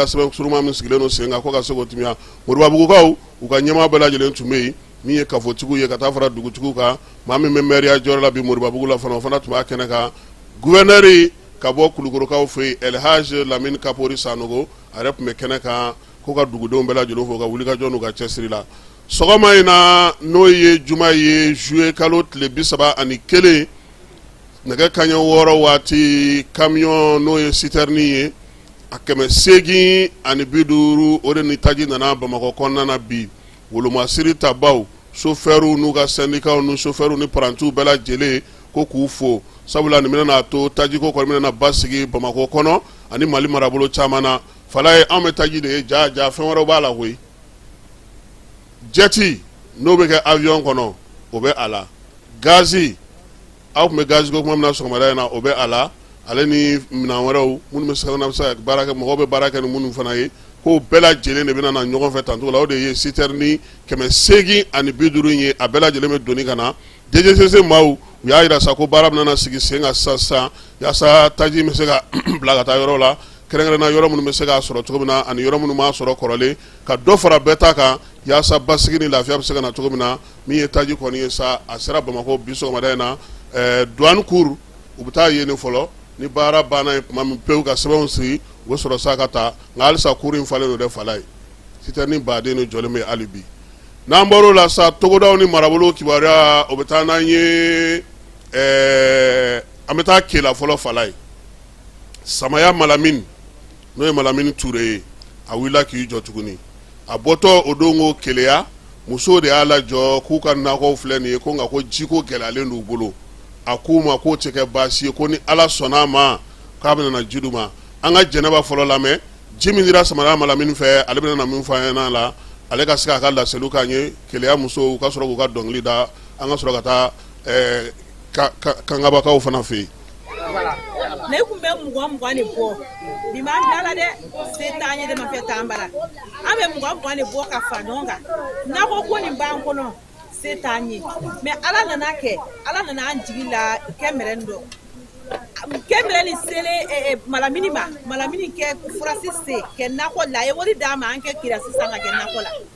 sɛbɛn surunma min sigilen don sen kan ko ka se k'o tiimɛya moribabugukaw u ka ɲɛmaa bɛɛ lajɛlen tun bɛ yen min ye kafotigiw ye ka taa fara dugutigiw kan maa min bɛ mɛriya jɔyɔrɔ la bi moribabugu la fana o fana tun b'a kɛnɛ kan guvɛnɛri ka bɔ kulukorokaw fɛ yen elhaj lamini kapori sanogo a yɛrɛ tun bɛ kɛnɛ kan ko ka dugudenw bɛɛ lajɛlen fo u ka wulikajɔ n'u ka cɛsiri la sɔgɔma in na n'o ye juma ye zuluye kalo tile bi saba ani kelen nɛgɛ kanɲɛ wɔɔrɔ waati kamiyɔn n'o ye sitɛrinin ye a kɛmɛ segin ani bi duuru o de ni taji nana bamakɔ kɔnɔna na bi wolomasiri tabaw sofɛrw n'u ka sɛndikaw ni sofɛrw ni parantiw bɛɛ lajɛlen ko k'u fo sabula nin bɛna na a to tajiko kɔni bɛna basigi bamakɔ kɔnɔ ani mali marabolo caman na fala ye anw bɛ taji de ye ja ja fɛn wɛrɛw b'a la koyi jɛti n'o bɛ kɛ awiyɔn kɔnɔ o bɛ a la gazi aw tun bɛ gaziko kuma min na sɔgɔmada in na o bɛ a la ale ni minɛn wɛrɛw minnu bɛ se ka baara kɛ mɔgɔ bɛ baara kɛ ni minnu fana ye k'o bɛɛ lajɛlen de bɛna na ɲɔgɔn fɛ tancogo la o de ye sitɛrini kɛmɛ segin ani bi duuru in ye a bɛɛ lajɛlen bɛ doni ka na dejesese maaw u y'a jira sa ko baara bɛna sigi sen kan sisan sisan yaasa taji bɛ se ka bila ka taa yɔrɔ la kɛrɛnkɛrɛnna yɔrɔ minnu bɛ se k'a sɔrɔ cogo min na ani yɔrɔ minnu b'a sɔrɔ kɔrɔlen ka dɔ fara bɛɛ ta kan yaasa basigi ni lafiya bɛ se ka na cogo min na min ye taji kɔni ye sa a sera bamakɔ bi sɔgɔmada in na duwani kuru u bɛ taa yen fɔlɔ ni baara banna yen tuma min pewu ka sɛbɛnw sigi u bɛ sɔrɔ sa ka taa nka halisa kuru in falen don dɛ fala ye sitɛrini baden ni jɔlen bɛ hali bi n'an bɔra o la sa togodaw ni marabolo kibaruya o bɛ taa n'an ye an bɛ taa kela fɔlɔ fala ye samaya malamin n'o ye malamini ture ye a wulila k'i jɔ tuguni a bɔtɔ o don ko keleya musow de y'a lajɔ k'u ka nakɔw filɛ nin ye ko nka ko jiko gɛlɛyalen d'u bolo a k'u ma k'o tɛ kɛ baasi ye ko ni ala sɔnna a ma k'a bɛna na ji d'u ma an ka jɛnɛba fɔlɔ lamɛn ji min dira samaya malamini fɛ ale bɛna na min fɔ an ɲɛna la ale ka se k'a ka laseliw k'an ye keleya musow u ka sɔrɔ k'u ka dɔnkili da an ka sɔrɔ ka taa kangabakaw fana fɛ yen na i kun bɛ mugan mugan de bɔ bi m'an bila la dɛ se t'an ye dɛmɛ fɛn t'an bara an bɛ mugan mugan de bɔ ka fara ɲɔgɔn kan nakɔ kɔni b'an kɔnɔ se t'an ye mɛ ala nana kɛ ala nana an jigi la kɛmɛrɛn dɔ kɛmɛrɛnin sele malamini ma malamini kɛ furasi sen kɛ nakɔ la a ye wari d'an ma an kɛ kirasi san ka kɛ nakɔ la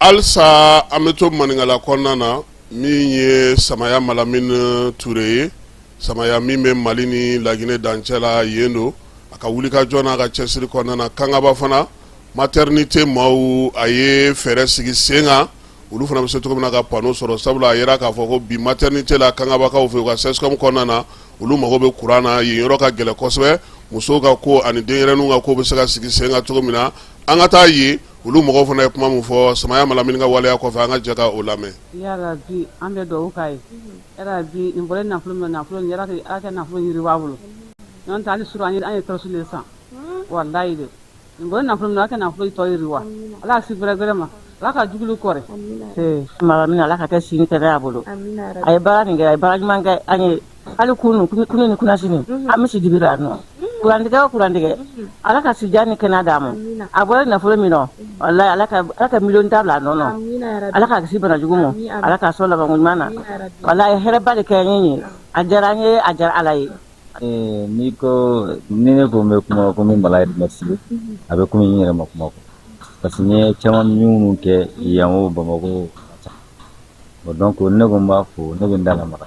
halisa an bɛ to maninkala kɔnɔna na min ye samaya malamin ture ye samaya min bɛ mali ni laginɛ dancɛ la yen don a ka wulikajɔ n'a ka cɛsiri kɔnɔna na kangaba fana matɛrinite maaw a ye fɛɛrɛ sigi sen kan olu fana bɛ se cogo min na ka pano sɔrɔ sabula a jira k'a fɔ ko bi matɛrinite la kangabakaw fɛ u ka sɛsikɔmu kɔnɔna na olu mago bɛ kuran na yen yɔrɔ ka gɛlɛn kosɛbɛ musow ka ko ani denyɛrɛnin ka ko bɛ se ka sigi sen kan cogo min na an ka taa yen olu mɔgɔ fana ye kuma min fɔ samaya malamin ka waleya kɔfɛ an ka jɛ ka o lamɛn yarabi an bɛ dugawu k'a ye yarabi nin bɔlen nafolo min nafolo kɛ nafolo yiriwa a bolo n'o tɛ hali surɔ an ye tɔrɔsi de san walayi dɛ nin bɔlen nafolo min a kɛ nafolo tɔ yiriwa ala si bɛrɛ bɛrɛ ma ala ka jugulu kɔrɔ malamin ala ka kɛ si ni kɛnɛya bolo a ye baara nin kɛ a ye baara ɲuman kɛ an ye hali kunun kunun ni kunasini mhm. an bɛ si dibi ra yan nɔ mhm. kurantigɛ o kurantigɛ mhm. ala ka sijan ni kɛnɛya d'a ma a bɔra nafolo min nɔ walayi ala ka ala ka miliyɔn tan bila a nɔ nɔ ala k'a kisi bana jugu ma ala k'a sɔn labanko ɲuman na walayi hɛrɛba de kɛ n ye a diyara n ye a diyara ala ye eh, n'i ko ni ne ko n bɛ kuma ko n bɛ mala yɛrɛ merci a bɛ komi n yɛrɛ ma kuma ko parce que n ye caman minnu kɛ yan o bamakɔ o donc ne ko n b'a fo ne bɛ n da lamaga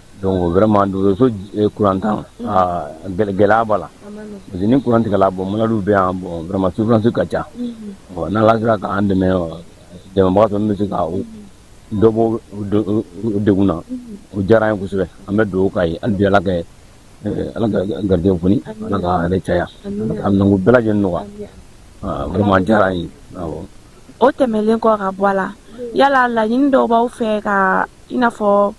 don wɛrɛma donso kurantan gɛlɛya b'a la parce ni kurantigɛla bɔ mdu bɛ yan bɔnma suurransi ka ca ɔ n' sigira k'an dɛmɛ dɛmɛba fɛ bɛ se ka dɔbo deg na o diyara ye kosɛbɛ an bɛ don ka ye an bɛ ala kɛ ala garijɛ kunnafoni ala ka yɛrɛ caya a nugu bɛɛ lajɛlen nɔgɔ walima diyara ye o tɛmɛnlen kɔ ka bɔ a la yala laɲini dɔw b' fɛ ka i n'a fɔ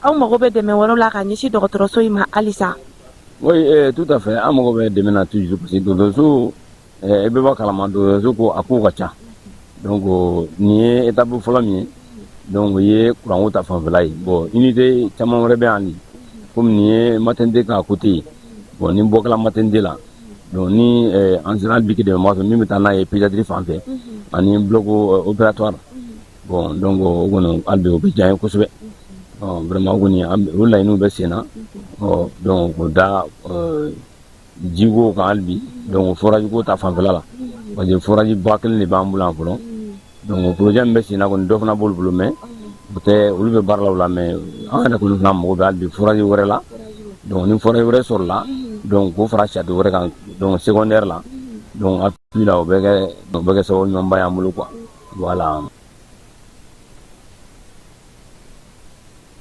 aw mago bɛ dɛmɛ wɛrɛ la ka ɲɛsin dɔgɔtɔrɔso in ma halisa oui eh, tout à fait an mago bɛ dɛmɛ na toujours parce que dɔgɔtɔrɔso eh, i bɛ b'a kalama dɔgɔtɔrɔso ko a kow ka ca donc nin ye étape fɔlɔ min ye donc o ye kuranko ta fanfɛla ye bon unité caman wɛrɛ bɛ yan de komi nin ye maternité ka côté ye bon ni bɔ kɛla maternité la donc ni eh, an sera hali bi ka dɛmɛba sɔrɔ min bɛ taa n'a ye pédiatrie fan fɛ ani bloc eh, opératoire Bɔn dɔn ko o kɔnɔ an bi o bɛ diya ye kosɛbɛ wɛrɛma kɔni o layi n'u bɛ sen na ɔ dɔn ko da jiwo kan bi dɔn fɔrajugu ta fanfɛla la parce que fɔraji ba kelen de b'an bolo an fɔlɔ don pjɛ bɛ sen na ko dɔ fana bolo bolo mɛ u tɛ olu bɛ baara la mɛ an yɛrɛ kulu fana mɔgɔ bɛ bi furaji wɛrɛ la dɔn ni fɔra wɛrɛ sɔrɔ la dɔn ko fara sadi wɛrɛ kan dɔn sɛɛ la dɔn la u bɛ kɛ sababu ɲɔgɔnba y'an bolo kuwa Voilà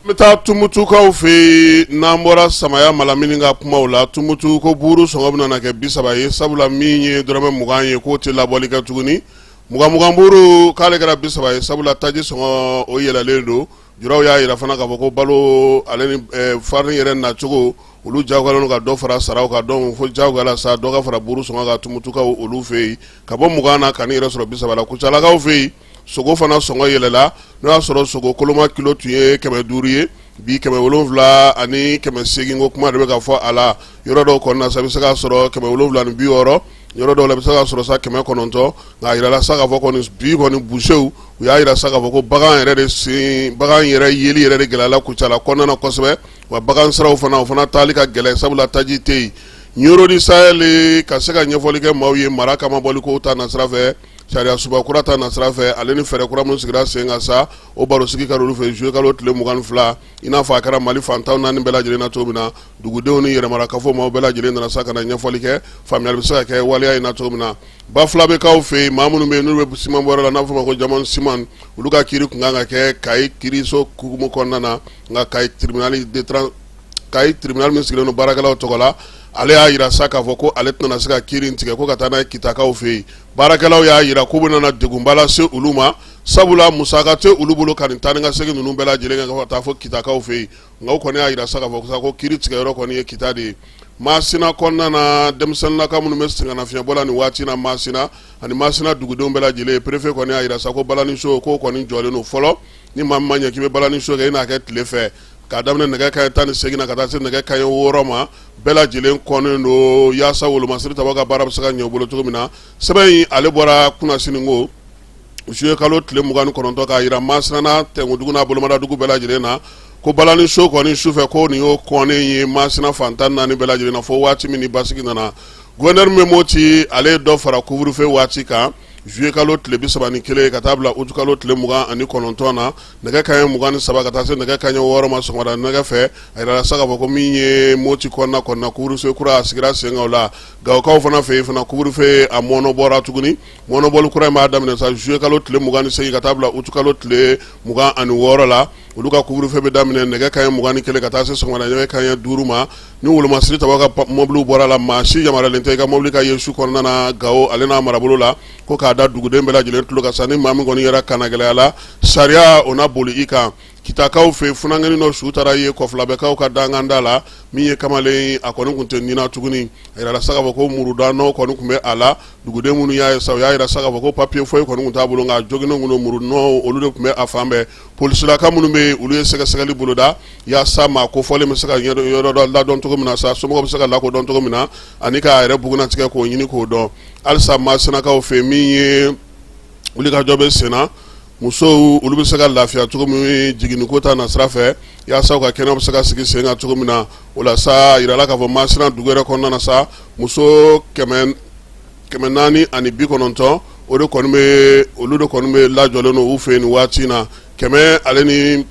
n bɛ taa tumutukaw fɛ yen n'an bɔra samaya malamini ka kumaw la tumutu ko buuru sɔngɔ bɛna na kɛ bi saba ye sabula min ye dɔrɔmɛ mugan ye k'o tɛ labɔli kɛ tuguni muganmugan buuru k'ale kɛra bi saba ye sabula taji sɔngɔ o yɛlɛlen don juraw y'a yira fana k'a fɔ ko balo ale ni farini yɛrɛ nacogo olu jagoyalen don ka dɔ fara saraw kan donc fo jagoya la sa dɔ ka fara buuru sɔngɔ kan tumutukaw olu fɛ yen ka bɔ mugan na ka n'i yɛrɛ sɔrɔ bi saba la kucalakaw fɛ yen sogo fana sɔngɔ yɛlɛla n'o y'a sɔrɔ sogo koloma kilo tun ye kɛmɛ duuru ye bi kɛmɛ wolonwula ani kɛmɛ seegin ko kuma de bɛ ka fɔ a la yɔrɔ dɔw kɔnɔna sa i bɛ se k'a sɔrɔ kɛmɛ wolonwula ni bi wɔɔrɔ yɔrɔ dɔw la i bɛ se k'a sɔrɔ sa kɛmɛ kɔnɔntɔn nka a yirala sa k'a fɔ kɔni bi kɔni busew u y'a yira sa k'a fɔ ko bagan yɛrɛ de sen bagan yɛrɛ yeli yɛrɛ de gɛlɛyala kucala kɔnɔna na kosɛbɛ wa bagan siraw fana u fana taali ka gɛlɛn sabula taji tɛ yen Ɲɔrɔ du Sahel ka se ka ɲɛfɔli kɛ maaw ye mara cɛmabɔli ko ta na sira fɛ sariyasunba kura ta na sira fɛ ale ni fɛɛrɛ kura minnu sigira sen kan sa o barosigi kɛra olu fɛ zuyekalo tile mugan ni fila i n'a fɔ a kɛra mali fantan naani bɛɛ lajɛlen na cogo min na dugudenw ni yɛrɛmarakafo maaw bɛɛ lajɛlen nana sa ka na ɲɛfɔli kɛ faamuyali bɛ se ka kɛ waleya in na cogo min na Bafulabɛkaw fɛ yen maa minnu bɛ yen n'u bɛ siman bɔ la n'a bɛ fɔ a ma ko Diamond siman olu ka kiri tun ka kan ka kɛ Kayi kiiriso kukumu kɔnɔna na nka Kayi tribunal de Kayi tribunal min sigilen don baarakɛlaw tɔgɔ la, ale y'a yira sa k'a fɔ ko ale tɛna se ka kiri in tigɛ ko ka taa n'a ye kitakaw fɛ yen, baarakɛlaw y'a yira k'o bɛna na degunba lase olu ma sabula musaka tɛ olu bolo ka nin taa ni ka segin ninnu bɛɛ lajɛlen kɛ ka taa fo kitakaw fɛ yen, nka u kɔni y'a yira sa k'a fɔ ko kiri tigɛyɔrɔ kɔni ye kita de ye. Masina kɔnɔna na, denmisɛnninnaka minnu bɛ sɛgɛnnafiɲɛbɔ la nin waati in na Masina ani Masina dugudenw bɛɛ lajɛlen, perefe kɔni y'a yira sa ko balani so k'o kɔni jɔlen don fɔlɔ, ni maa min ma ɲɛ k'i bɛ balani so kɛ i n'a kɛ tile fɛ. k'a daminɛ nɛgɛ kanɲɛ tan ni segin na ka taa se nɛgɛ kanɲɛ wɔɔrɔ ma bɛɛ lajɛlen kɔnnen don yaasa wolomasiri tabaa ka baara bɛ se ka ɲɛ u bolo cogo min na sɛbɛn in ale bɔra kunasinikɔ zuyekalo tile mugan ni kɔnɔntɔn k'a yira Masina n'a tɛnkudugu n'a bolomadadugu bɛɛ lajɛlen na ko balani so kɔni sufɛ ko nin y'o kɔnnen ye masina fantan naani bɛɛ lajɛlen na fo waati min ni basigi nana gouverneur min bɛ Moti ale ye dɔ fara couvre-feu waati kan zuyekalo tile bi saba ni kelen ka taa bila utukalo tile mugan ani kɔnɔntɔn na nɛgɛ kanɲɛ mugan ni saba ka taa se nɛgɛ kanɲɛ wɔɔrɔ ma sɔgɔmada nɛgɛ fɛ a yirala sa k'a fɔ ko min ye moti kɔnɔna kɔnɔna couvre-feu kura a sigira sen kan o la Gawokaw fana fɛ yen fana couvre-feu a mɔnɔbɔra tuguni mɔnɔbɔli kura in b'a daminɛ sa zuyekalo tile mugan ni segin ka taa bila utukalo tile mugan ani wɔɔrɔ la olu ka couvre-feu bɛ daminɛ nɛgɛ kanɲɛ mugan ni kelen ka taa se sɔgɔmada nɛgɛ kanɲɛ duuru ma ni wolomasiri tabaa ka mɔbili bɔra la maa si yamaruyalen tɛ i ka mɔbili ka ye su kɔnɔna na gawo ale n'a marabolo la ko k'a da duguden bɛɛ lajɛlen tulo kan sa ni maa min kɔni yɛrɛ kannagɛlɛyala sariya o na boli i kan kitakaw fɛ funankɛnin dɔ su taara ye Kɔfulabɛkaw ka danganda la min ye kamalen a kɔni tun tɛ ni na tuguni a yirala sa k'a fɔ ko murudanɔ kɔni tun bɛ a la duguden minnu y'a ye sa u y'a yira sa k'a fɔ ko papiye foyi kɔni tun t'a bolo nka joginnen tun don muru nɔw olu de tun bɛ a fan bɛɛ Polisilaka minnu bɛ olu ye sɛgɛsɛgɛli boloda yaasa maa kofɔlen bɛ se ka yɔrɔ ladɔn cogo min na sa somɔgɔw bɛ se ka lakodɔn cogo min na ani k'a yɛrɛ bugunnatigɛ k'o ɲini k'o dɔn halisa Masinakaw fɛ min ye wulikajɔ bɛ senna musow olu bɛ se ka lafiya cogo min jiginni ko ta na sira fɛ yaasa o ka kɛnɛw bɛ se ka sigi sen kan cogo min na o la sa a yirala k'a fɔ Masina dugu yɛrɛ kɔnɔna na sa muso kɛmɛ kɛmɛ naani ani bi kɔnɔntɔn o de kɔni bɛ olu de kɔni bɛ lajɔlen don u fɛ nin waati in na kɛmɛ ale ni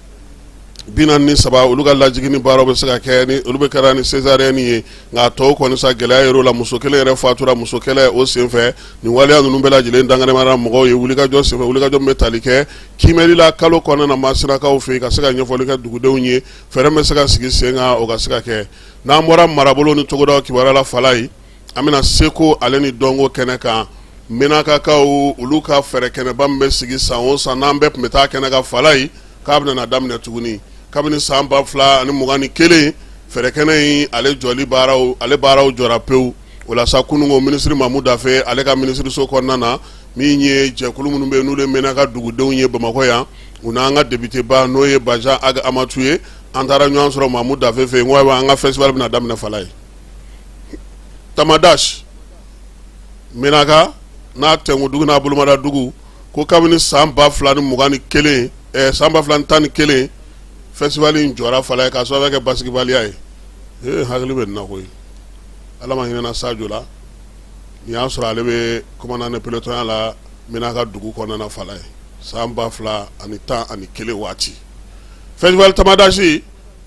bi naani ni saba olu ka lajiginni baaraw bɛ se ka kɛ olu bɛɛ kɛra ni sezariyɛni ye nka tɔw kɔni sa gɛlɛya yer'o la muso kelen yɛrɛ fatura musokɛlɛ o senfɛ nin waleya ninnu bɛɛ lajɛlen dankɛnɛmayara mɔgɔw ye wulikajɔ senfɛ wulikajɔ min bɛ tali kɛ kiimɛli la kalo kɔnɔna na masinakaw fɛ yen ka se ka ɲɛfɔli kɛ dugudenw ye fɛɛrɛ bɛ se ka sigi sen kan o ka se ka kɛ n'an bɔra marabolo ni togoda kibaruya la fala ye an bɛna seko ale ni dɔnko kɛnɛ kan menakakaw olu ka fɛɛrɛ kɛnɛba min bɛ sigi san o san n'an bɛɛ tun bɛ taa kɛnɛ kan fala ye k'a bɛna daminɛ tuguni kabini san ba fila ani mugan ni kelen fɛɛrɛkɛnɛ in ale jɔli baaraw ale baaraw jɔra pewu o la sa kununko minisiri mamu dafe ale ka minisiriso kɔnɔna na min ye jɛkulu minnu bɛ yen n'olu ye menaka dugudenw ye bamakɔ yan u n'an ka depiteba n'o ye bajan ag amatu ye an taara ɲɔgɔn sɔrɔ mamu dafe fɛ yen ko an ka fɛsitivali bɛna daminɛ fala ye tamadasi menaka n'a tɛdugu n'a bolomadadugu ko kabini san ba fila ni mugan ni kelen eh, san ba fila ni tan ni kelen fɛsitivali in jɔra fala ye k'a sababu kɛ basigibaliya ye ee hakili bɛ na koyi ala ma hinɛna sajo la nin y'a sɔrɔ ale bɛ kɔmandan de pelotɔnya la menaka dugu kɔnɔna fala ye san ba fila ani tan ani kelen waati fɛsitivali tamadasi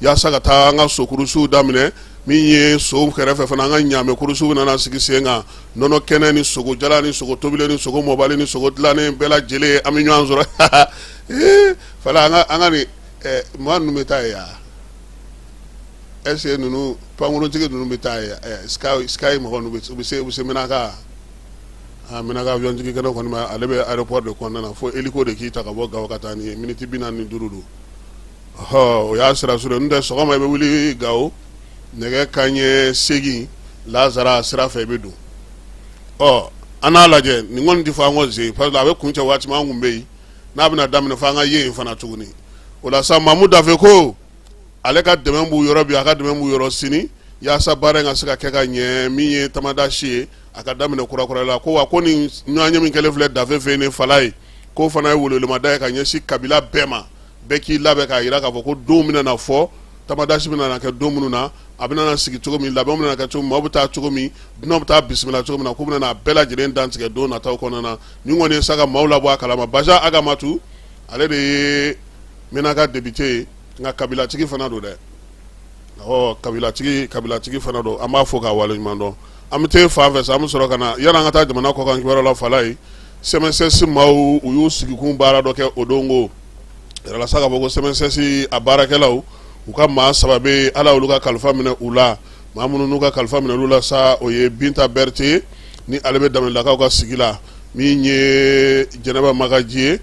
yaasa ka taa an ka sokurusiw daminɛ min ye sow kɛrɛfɛ fana an ka ɲaamɛ kurusiww bɛna na sigi sen kan nɔnɔ kɛnɛ ni sogo jalan ni sogo tobilen ni sogo mɔbali ni sogo dilannen bɛɛ lajɛlen an bɛ ɲɔgɔn sɔrɔ fala an ka nin maa ninnu bɛ taa yan ɛsike ninnu pankuruntigi ninnu bɛ taa sikayi mɔgɔ ninnu bɛ se menaka menaka awiyɔn jigikɛnɛ kɔni ale bɛ ayeropɔri de kɔnɔna na fo eliko de k'i ta ka bɔ gawo ka taa n'i ye miniti bi naani ni duuru don o y'a sira surun ye n'o tɛ sɔgɔma i bɛ wuli gawo nɛgɛ kanɲɛ seegin lasara sira fɛ i bɛ don ɔ an n'a lajɛ nin kɔni tɛ fɔ an kɔ zen pasike a bɛ kuncɛ waati min an kun bɛ yen n'a bɛna daminɛ fo an ka ye yen fana tuguni o la sa mamu dafe ko ale ka dɛmɛ b'u yɔrɔ bi a ka dɛmɛ b'u yɔrɔ sini yaasa baara in ka se ka kɛ ka ɲɛ min ye tamadasi ye a ka daminɛ kurakura la ko wa ko nin ɲɔgɔnye min kɛlen filɛ dafe fɛ nin fala ye k'o fana ye welewelemada ye ka ɲɛsin kabila bɛɛ ma bɛɛ k'i labɛn k'a jira k'a fɔ ko don bɛna na fɔ tamadasi bɛna na kɛ don minnu na a bɛna na sigi cogo min labɛnw bɛna kɛ cogo min maaw bɛ taa cogo min dunanw bɛ taa bisimila cogo min na k'u bɛna a bɛɛ lajɛlen dantigɛ don nataw kɔnɔna na nin kɔni ye sa ka maaw labɔ a kalama bajan ag amatu ale de ye menaka depite ye nka kabilatigi fana don dɛ ɔ kabilatigi kabilatigi fana don an b'a fɔ k'a waleɲuman dɔn an bɛ taa fan fɛ sa an bɛ sɔrɔ ka na yanni an ka taa jamana kɔkan kibaruya la fala ye CMSS maaw u y'u sigikun baara dɔ kɛ o don ko sa k'a fɔ ko sɛmɛsɛsi a baarakɛlaw u ka maa saba bɛ ala olu ka kalifa minɛ u la maa minnu n'u ka kalifa minɛ olu la sa o ye binta berete ni ale bɛ daminɛlakaw ka sigi la min ye jɛnɛba magaji ye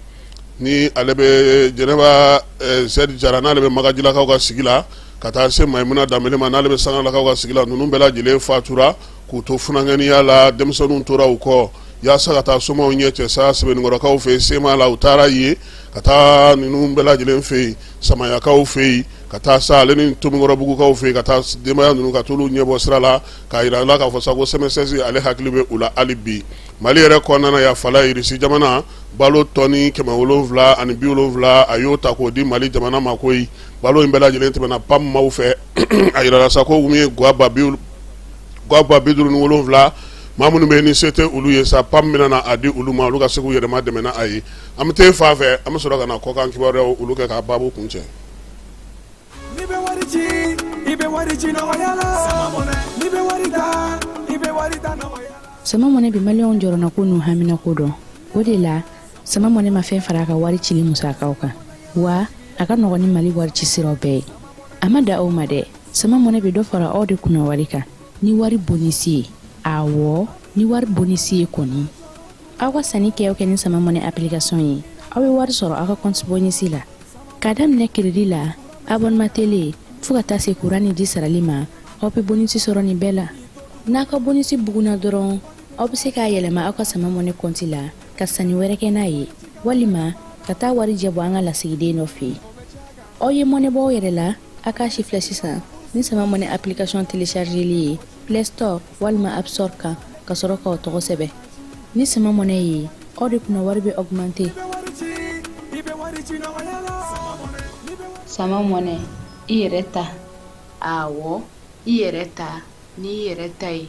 ni ale bɛ jɛnɛba zɛdi jara n'ale bɛ magajilakaw ka sigi la ka taa se mayimuna danbele ma n'ale bɛ sangalakaw ka sigi la ninnu bɛɛ lajɛlen fatura k'u to funankɛniya la denmisɛnninw tora u kɔ yaasa ka taa somaw ɲɛ cɛ sa sebeninkɔrɔkaw fɛ yen sema la u taara yen ka taa ninnu bɛɛ lajɛlen fɛ yen samayakaw fɛ yen ka taa sa ale ni tomikɔrɔbugukaw fɛ yen ka taa denbaya ninnu ka t'olu ɲɛbɔ sira la k'a jira u la k'a fɔ sa ko sɛmɛsɛsi ale hakili bɛ u la hali bi mali yɛrɛ kɔnɔna na yan fala irisi jamana balo tɔni kɛmɛ wolonwula ani bi wolonwula a y'o ta k'o di mali jamana ma koyi balo in bɛɛ lajɛlen tɛmɛna pam maaw fɛ a jirala sa ko min ye guwa ba bi guwa ba bi duuru ni wolonwula maa minnu bɛ yen ni se tɛ olu ye sa pam bɛna na a di olu ma olu ka se k'u yɛrɛma dɛmɛ n'a ye an bɛ taa fan fɛ an bɛ sɔrɔ ka na kɔkan kibaruyaw olu kɛ k'a baabu kuncɛ sama mɔnɛ bi maliyɛnw jɔrɔna ko n'u hamina ko dɔn o de la sama mɔnɛ ma fɛn fara a ka wari cili musakaw kan wa a ka nɔgɔn ni mali wari ci siraw bɛɛ ye a ma da aw ma dɛ sama mɔnɛ bɛ dɔ fara aw de kunna wari kan ni wari bonisi ye awɔ ni wari bonisi ye kɔni aw ka sanni kɛ o kɛ ni sama mɔnɛ application ye aw bɛ wari sɔrɔ aw ka compte bonisi la k'a daminɛ kredi la abonnement tele fo ka taa se kuran ni ji sarali ma aw bɛ bonisi sɔrɔ nin bɛɛ la n'a ka bonisi bugunna dɔrɔn aw bɛ se k'a yɛlɛma aw ka sama mɔnɛ kɔnti la ka sanni wɛrɛ kɛ n'a ye walima ka taa wari jɛ bɔ an ka lasigiden dɔ fɛ yen aw ye mɔnɛ bɔ aw yɛrɛ la a k'a sifilɛ sisan ni sama mɔnɛ application téléchargeli ye play store walima app store kan ka sɔrɔ k'aw tɔgɔ sɛbɛn ni sama mɔnɛ ye aw de kunna wari bɛ augmenter sama mɔnɛ i yɛrɛ ta awɔ i yɛrɛ ta n'i yɛrɛ ta ye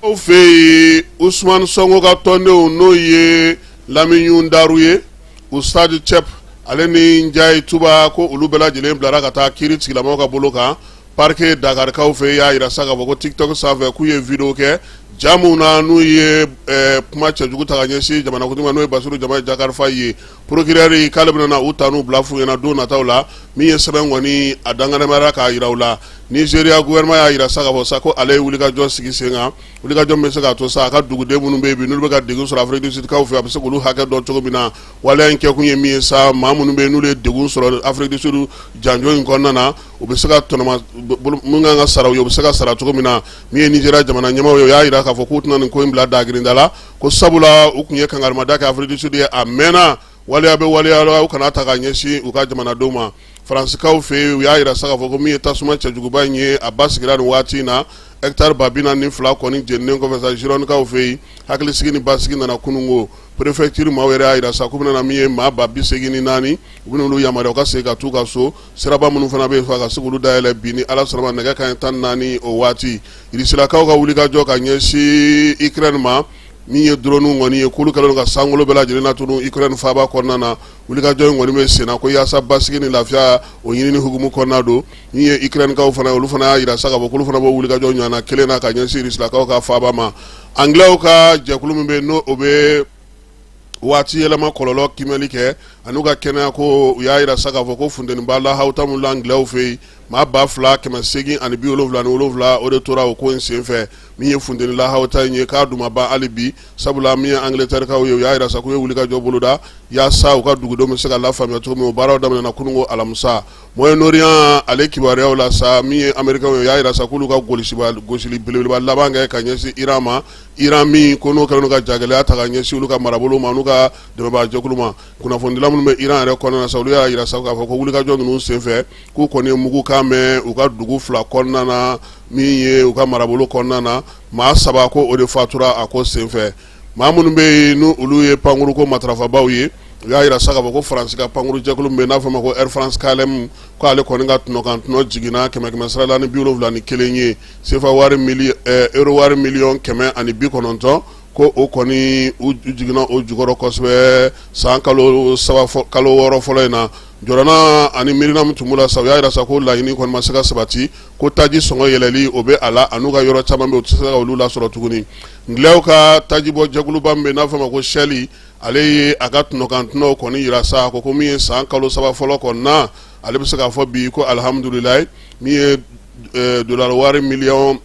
aw fɛ yen usumani sonko ka tɔndenw n'o ye lamini daru ye ustadi cɛp ale ni njayi tuba ko olu bɛɛ lajɛlen bilara ka taa kiri tigɛlamaaw ka bolo kan parike dakarikaw fɛ y'a jira sa k'a fɔ ko tiktok sanfɛ k'u ye video kɛ ja min na n'u ye kuma cɛjugu ta ka ɲɛsin jamanakuntigi ma n'o ye basiru jomayi jakari fayi ye procureur k'ale bɛna na u ta n'u bila f'u ɲɛna don nataw la min ye sɛbɛn kɔni a dankɛnɛmayara k'a jira u la nizeriya gouvernement y'a jira sa k'a fɔ sa ko ale ye wulikajɔ sigi sen kan wulikajɔ min bɛ se k'a to sa a ka duguden minnu bɛ yen n'olu bɛ ka degun sɔrɔ afiridusukaw fɛ a bɛ se k'olu hakɛ dɔn cogo min na waleya in kɛkun ye min ye sa maa minnu bɛ n'olu ye degun sɔrɔ afiridusu janjo in kɔnɔna na u bɛ se ka tɔnɔ minnu kan ka sara u ye u bɛ se ka sara cogo min na min ye nizeriya jamana ɲɛmaaw ye o y'a jira k'a fɔ k'u tɛna nin ko in bila dagirinda la ko sabula u tun ye kangarimada kɛ Afrique du Sud ye a mɛnna waleya bɛ waleya u kana ta ka ɲɛsin u ka jamanadenw ma Faransikaw fɛ yen u y'a jira sa k'a fɔ ko min ye tasuma cɛjuguba in ye a basigira ni waati in na ɛkitari ba bi naani ni fila kɔni jeninnen kɔfɛ sa Girondikaw fɛ yen hakili sigi ni basigi nana kununko préfecture maaw yɛrɛ y'a jira sa k'u bɛna na min ye maa ba bi seegin ni naani u bɛna olu yamaruya u ka segin ka taa u ka so siraba minnu fana bɛ yen fɔ a ka se k'olu dayɛlɛ bi ni ala sɔnna ma nɛgɛ kanɲɛ tan ni naani o waati Irisilakaw ka wulikajɔ ka ɲɛsin Ukraine ma min ye drone kɔni ye k'olu kɛlen ka sankolo bɛɛ lajɛlen latunu Ukraine faaba kɔnɔna na wulikajɔ in kɔni bɛ senna ko yaasa basigi ni lafiya o ɲinini hukumu kɔnɔna don min ye Ukrainekaw fana olu fana y'a jira sa k'a fɔ k'olu fana b'o wulikajɔ ɲɔgɔnna kelen na ka ɲɛsin Irisilakaw ka faaba ma Angilɛw ka jɛkulu min bɛ n'o bɛ waati yɛlɛma kɔlɔlɔ kimɛli kɛ an'u ka kɛnɛya ko u y'a jira sa k'a fɔ ko funteniba lahawuta min la Angilɛw fɛ yen maa ba fila kɛmɛ seegin ani bi wolonwula ni wolonwula o de tora o ko in senfɛ min ye funteni lahawuta in ye k'a dun ma ban hali bi sabula min ye Angilɛtɛrikaw ye u y'a jira sa k'u ye wulikajɔ boloda yaasa u ka dugudenw bɛ se ka lafaamuya cogo min o baaraw daminɛna kununko alamisa Moyen Orient ale kibaruyaw la sa min ye Amerikɛnw ye u y'a jira sa k'olu ka gosili belebeleba laban kɛ ka ɲɛsin Iran ma Iran min ko n'o kɛlen don ka jagɛlɛya ta ka ɲɛsin olu ka marabolo ma, an'u ka dɛmɛbaajɛkulu ma, kunnafonidila minnu bɛ Iran yɛrɛ kɔnɔna na sa, olu y'a jira sa k'a fɔ ko wulikajɔ ninnu senfɛ, k'u kɔni ye mugukan mɛn u ka dugu fila kɔnɔna na, min ye u ka marabolo kɔnɔna na, maa saba ko o de fatura a ko senfɛ. Maa minnu bɛ yen ni olu ye pankuruko matarafabaaw ye, u y'a jira sa k'a fɔ ko Faransi ka pankurujɛkulu min bɛ yen, n'a fɔ ma ko Air France KLM, k'ale kɔni ka tɔnɔkantɔnɔ jiginna kɛmɛ-kɛmɛsara la ni bi wolonwula ni kelen ye. sefa wari euro wari miliyɔn kɛmɛ ani bi kɔnɔntɔn ko o kɔni u jiginna o jukɔrɔ kosɛbɛ san kalo kalo wɔɔrɔ fɔlɔ in na jɔrɔna ani miirina min tun b'u la sa u y'a jira sa ko laɲini kɔni ma se ka sabati ko taji sɔngɔ yɛlɛli o bɛ a la an'u ka yɔrɔ caman bɛ u tɛ se ka olu lasɔrɔ tuguni Angilɛw ka tajibɔ jɛkuluba min bɛ n'a fɔ ma ko Shell ale ye a ka tɔnɔkantɔnɔw kɔni jira sa ko ko min ye san kalo saba fɔlɔ kɔnɔna na ale bɛ se k'a fɔ bi ko alihamdulilayi min ye dollar wari miliyɔn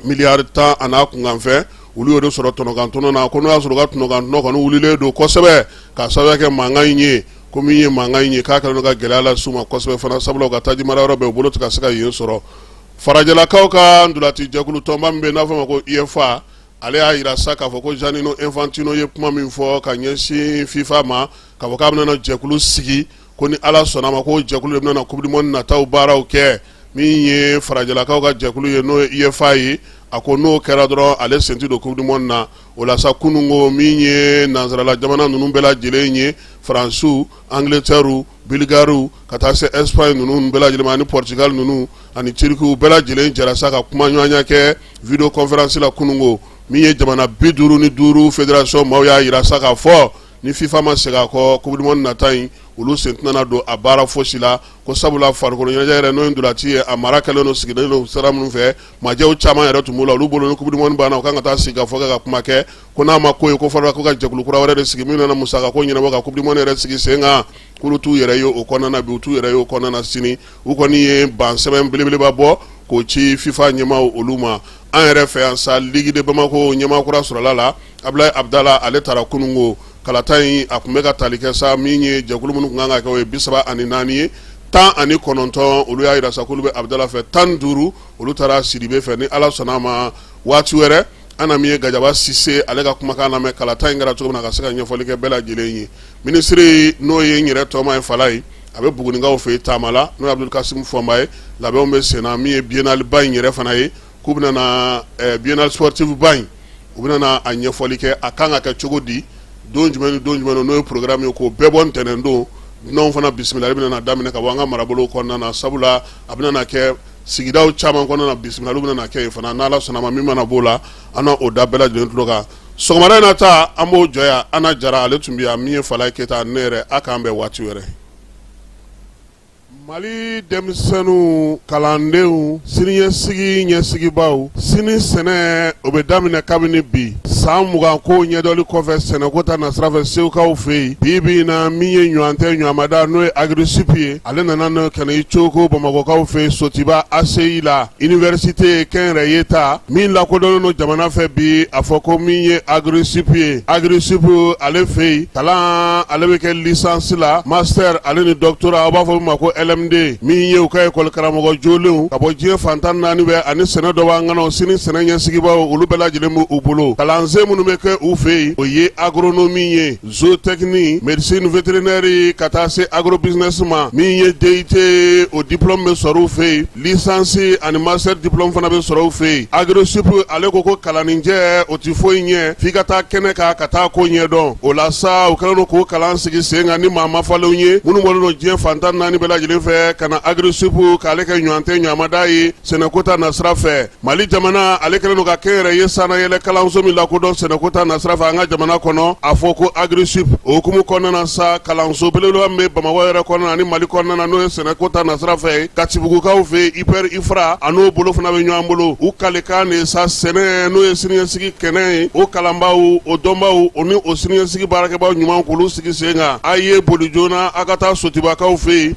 miliyari tan an'a kunkanfɛn olu y'o de sɔrɔ tɔnɔkantɔnɔ na ko n'o y'a sɔrɔ u ka tɔnɔkantɔnɔ kɔni wulilen don kosɛbɛ k'a sababuya kɛ mankan in ye ko min ye mankan in ye k'a kɛlen don ka gɛlɛya lase u ma kosɛbɛ fana sabula u ka taji marayɔrɔ bɛɛ u bolo tɛ ka se ka yen sɔrɔ farajɛlakaw ka ntolaci jɛkulu tɔnba min bɛ yen n'a fɔ ma ko UEFA ale y'a jira sa k'a fɔ ko Giannino Infantino ye kuma min fɔ ka ɲɛsin FIFA ma k'a fɔ k'a bɛna na jɛkulu sigi ko ni ala sɔnna a ma ko jɛkulu de bɛna coupe du monde nataw baaraw kɛ min ye farajɛlakaw ka jɛkulu ye n'o ye uefa ye a ko n'o kɛra dɔrɔn ale sen tɛ don coupe du monde na o la sa kununko min ye nansarala jamana ninnu bɛɛ lajɛlen ye faransiw angileteriw bulgariw ka taa se espagne ninnu bɛɛ lajɛlen ani portugal ninnu ani turkiw bɛɛ lajɛlen jɛra sa ka kuma ɲɔgɔnya kɛ vidéo conférence la kununko min ye jamana bi duuru ni duuru fédération maaw y'a jira sa k'a fɔ ni fifa ma segin a kɔ coupe du monde nata in olu sen tɛna don a baara fosi la ko sabula farikolo ɲɛnajɛ yɛrɛ n'o ye ndolati ye a mara kɛlen don sigilen don sira minnu fɛ majɛw caman yɛrɛ tun b'o la olu bolo ni coupe du monde banna u kan ka taa sigikafɔ kɛ ka kuma kɛ ko n'a ma ko ye ko fɔlɔ ko ka jɛkulu kura wɛrɛ de sigi min nana musaka ko ɲɛnabɔ ka coupe du monde yɛrɛ sigi sen kan k'olu t'u yɛrɛ ye o kɔnɔna na bi u t'u yɛrɛ ye o kɔnɔna na sini u kɔni ye ban sɛbɛn belebeleba bɔ k'o ci fifa ɲɛmaaw olu ma an yɛrɛ fɛ yan sa ligue de bamako ɲɛmaa kura sɔrɔla la abulayi abudala ale taara kununko kalata in a tun bɛ ka tali kɛ sa min ye jɛkulu minnu tun kan ka kɛ o ye bi saba ani naani ye tan ani kɔnɔntɔn olu y'a jira sa k'olu bɛ abudala fɛ tan ni duuru olu taara sidibe fɛ ni ala sɔnna a ma waati wɛrɛ an na min ye gajaba sise ale ka kumakan lamɛn kalata in kɛra cogo min na ka se ka ɲɛfɔli kɛ bɛɛ lajɛlen ye minisiri n'o ye n yɛrɛ tɔma ye falayi a bɛ buguninkaw fɛ yen taama la n'o ye abudul kasimu fɔnba ye labɛnw bɛ senna min ye biennale ba in yɛrɛ fana ye k'u bɛna na biennale sportive ba in u bɛna na a ɲɛfɔli kɛ a kan ka kɛ cogo di don jumɛn ni don jumɛn n'o ye programme ye k'o bɛɛ bɔ ntɛnɛn don dunanw fana bisimilali bɛna na daminɛ ka bɔ an ka marabolo kɔnɔna na sabula a bɛna na kɛ sigidaw caman kɔnɔna na bisimilaliw bɛna na kɛ yen fana n'ala sɔnna a ma min mana b'o la an na o da bɛɛ lajɛlen tulo kan sɔgɔmada in na ta an b'o jɔ yan ana jara ale tun bɛ yan min ye falayi keyita ne yɛrɛ a k'an bɛn waati wɛrɛ mali denmisɛnninw kalandenw siniɲɛsigi ɲɛsigibaaw sini sɛnɛ o bɛ daminɛ kabini bi san mugan ko ɲɛdɔli kɔfɛ sɛnɛko ta nasira fɛ seukaw fɛ yen bi bi in na min ye ɲɔgɔn tɛ ɲɔgɔnmada n'o ye agrisup ye ale nana n'o ka i cogo bamakɔkaw fɛ sotiba ACI la université kɛnyɛrɛye ta min lakodɔnnen don jamana fɛ bi a fɔ ko min ye agrisup ye agrisup ale fɛ yen kalan ale bɛ kɛ licence la master ale ni doctorat aw b'a fɔ min ma ko LMD min ye u ka ekɔli karamɔgɔ jolenw ka bɔ diɲɛ fan tan naani fɛ ani sɛnɛ dɔnbaa ŋanaw sini sɛnɛ ɲɛsigibaaw olu bɛɛ lajɛlen b'u bolo kalansen minnu bɛ kɛ u fɛ yen o ye agronomie ye Zootechnie médecine vétérinaire ka taa se agrobusiness ma min ye DUT ye o diplôme bɛ sɔrɔ u fɛ yen licence ani master diplôme fana bɛ sɔrɔ u fɛ yen agrisup ale ko ko kalanninjɛ o tɛ foyi ɲɛ f'i ka taa kɛnɛ kan ka taa ko ɲɛdɔn o la sa u kɛlen don k'o kalan sigi sen kan ni maa ma falenw ye minnu bɔlen don diɲɛ fan tan naani bɛɛ lajɛlen fɛ ka na agrisup k'ale kɛ ɲɔgɔn tɛ ɲɔgɔnmada ye sɛnɛko ta nasira fɛ Mali jamana ale kelen don ka kɛnyɛrɛye sanayɛlɛ kalanso min lakodɔn sɛnɛko ta nasira fɛ an ka jamana kɔnɔ a fɔ ko agrisup o hukumu kɔnɔna sa kalanso belebeleba min bɛ bamakɔ yɛrɛ kɔnɔna ani mali kɔnɔna n'o ye sɛnɛko ta nasira fɛ katibugukaw fɛ ipr ifra a n'o bolo fana bɛ ɲɔgɔn bolo u kalikan de sa sɛnɛ n'o ye siniɲɛsigi kɛnɛ ye o kalanbaw o dɔnbaw o ni o siniɲɛsigi baarakɛbaw ɲuman k'olu sigi sen kan a ye boli joona a ka taa sotubakaw fɛ yen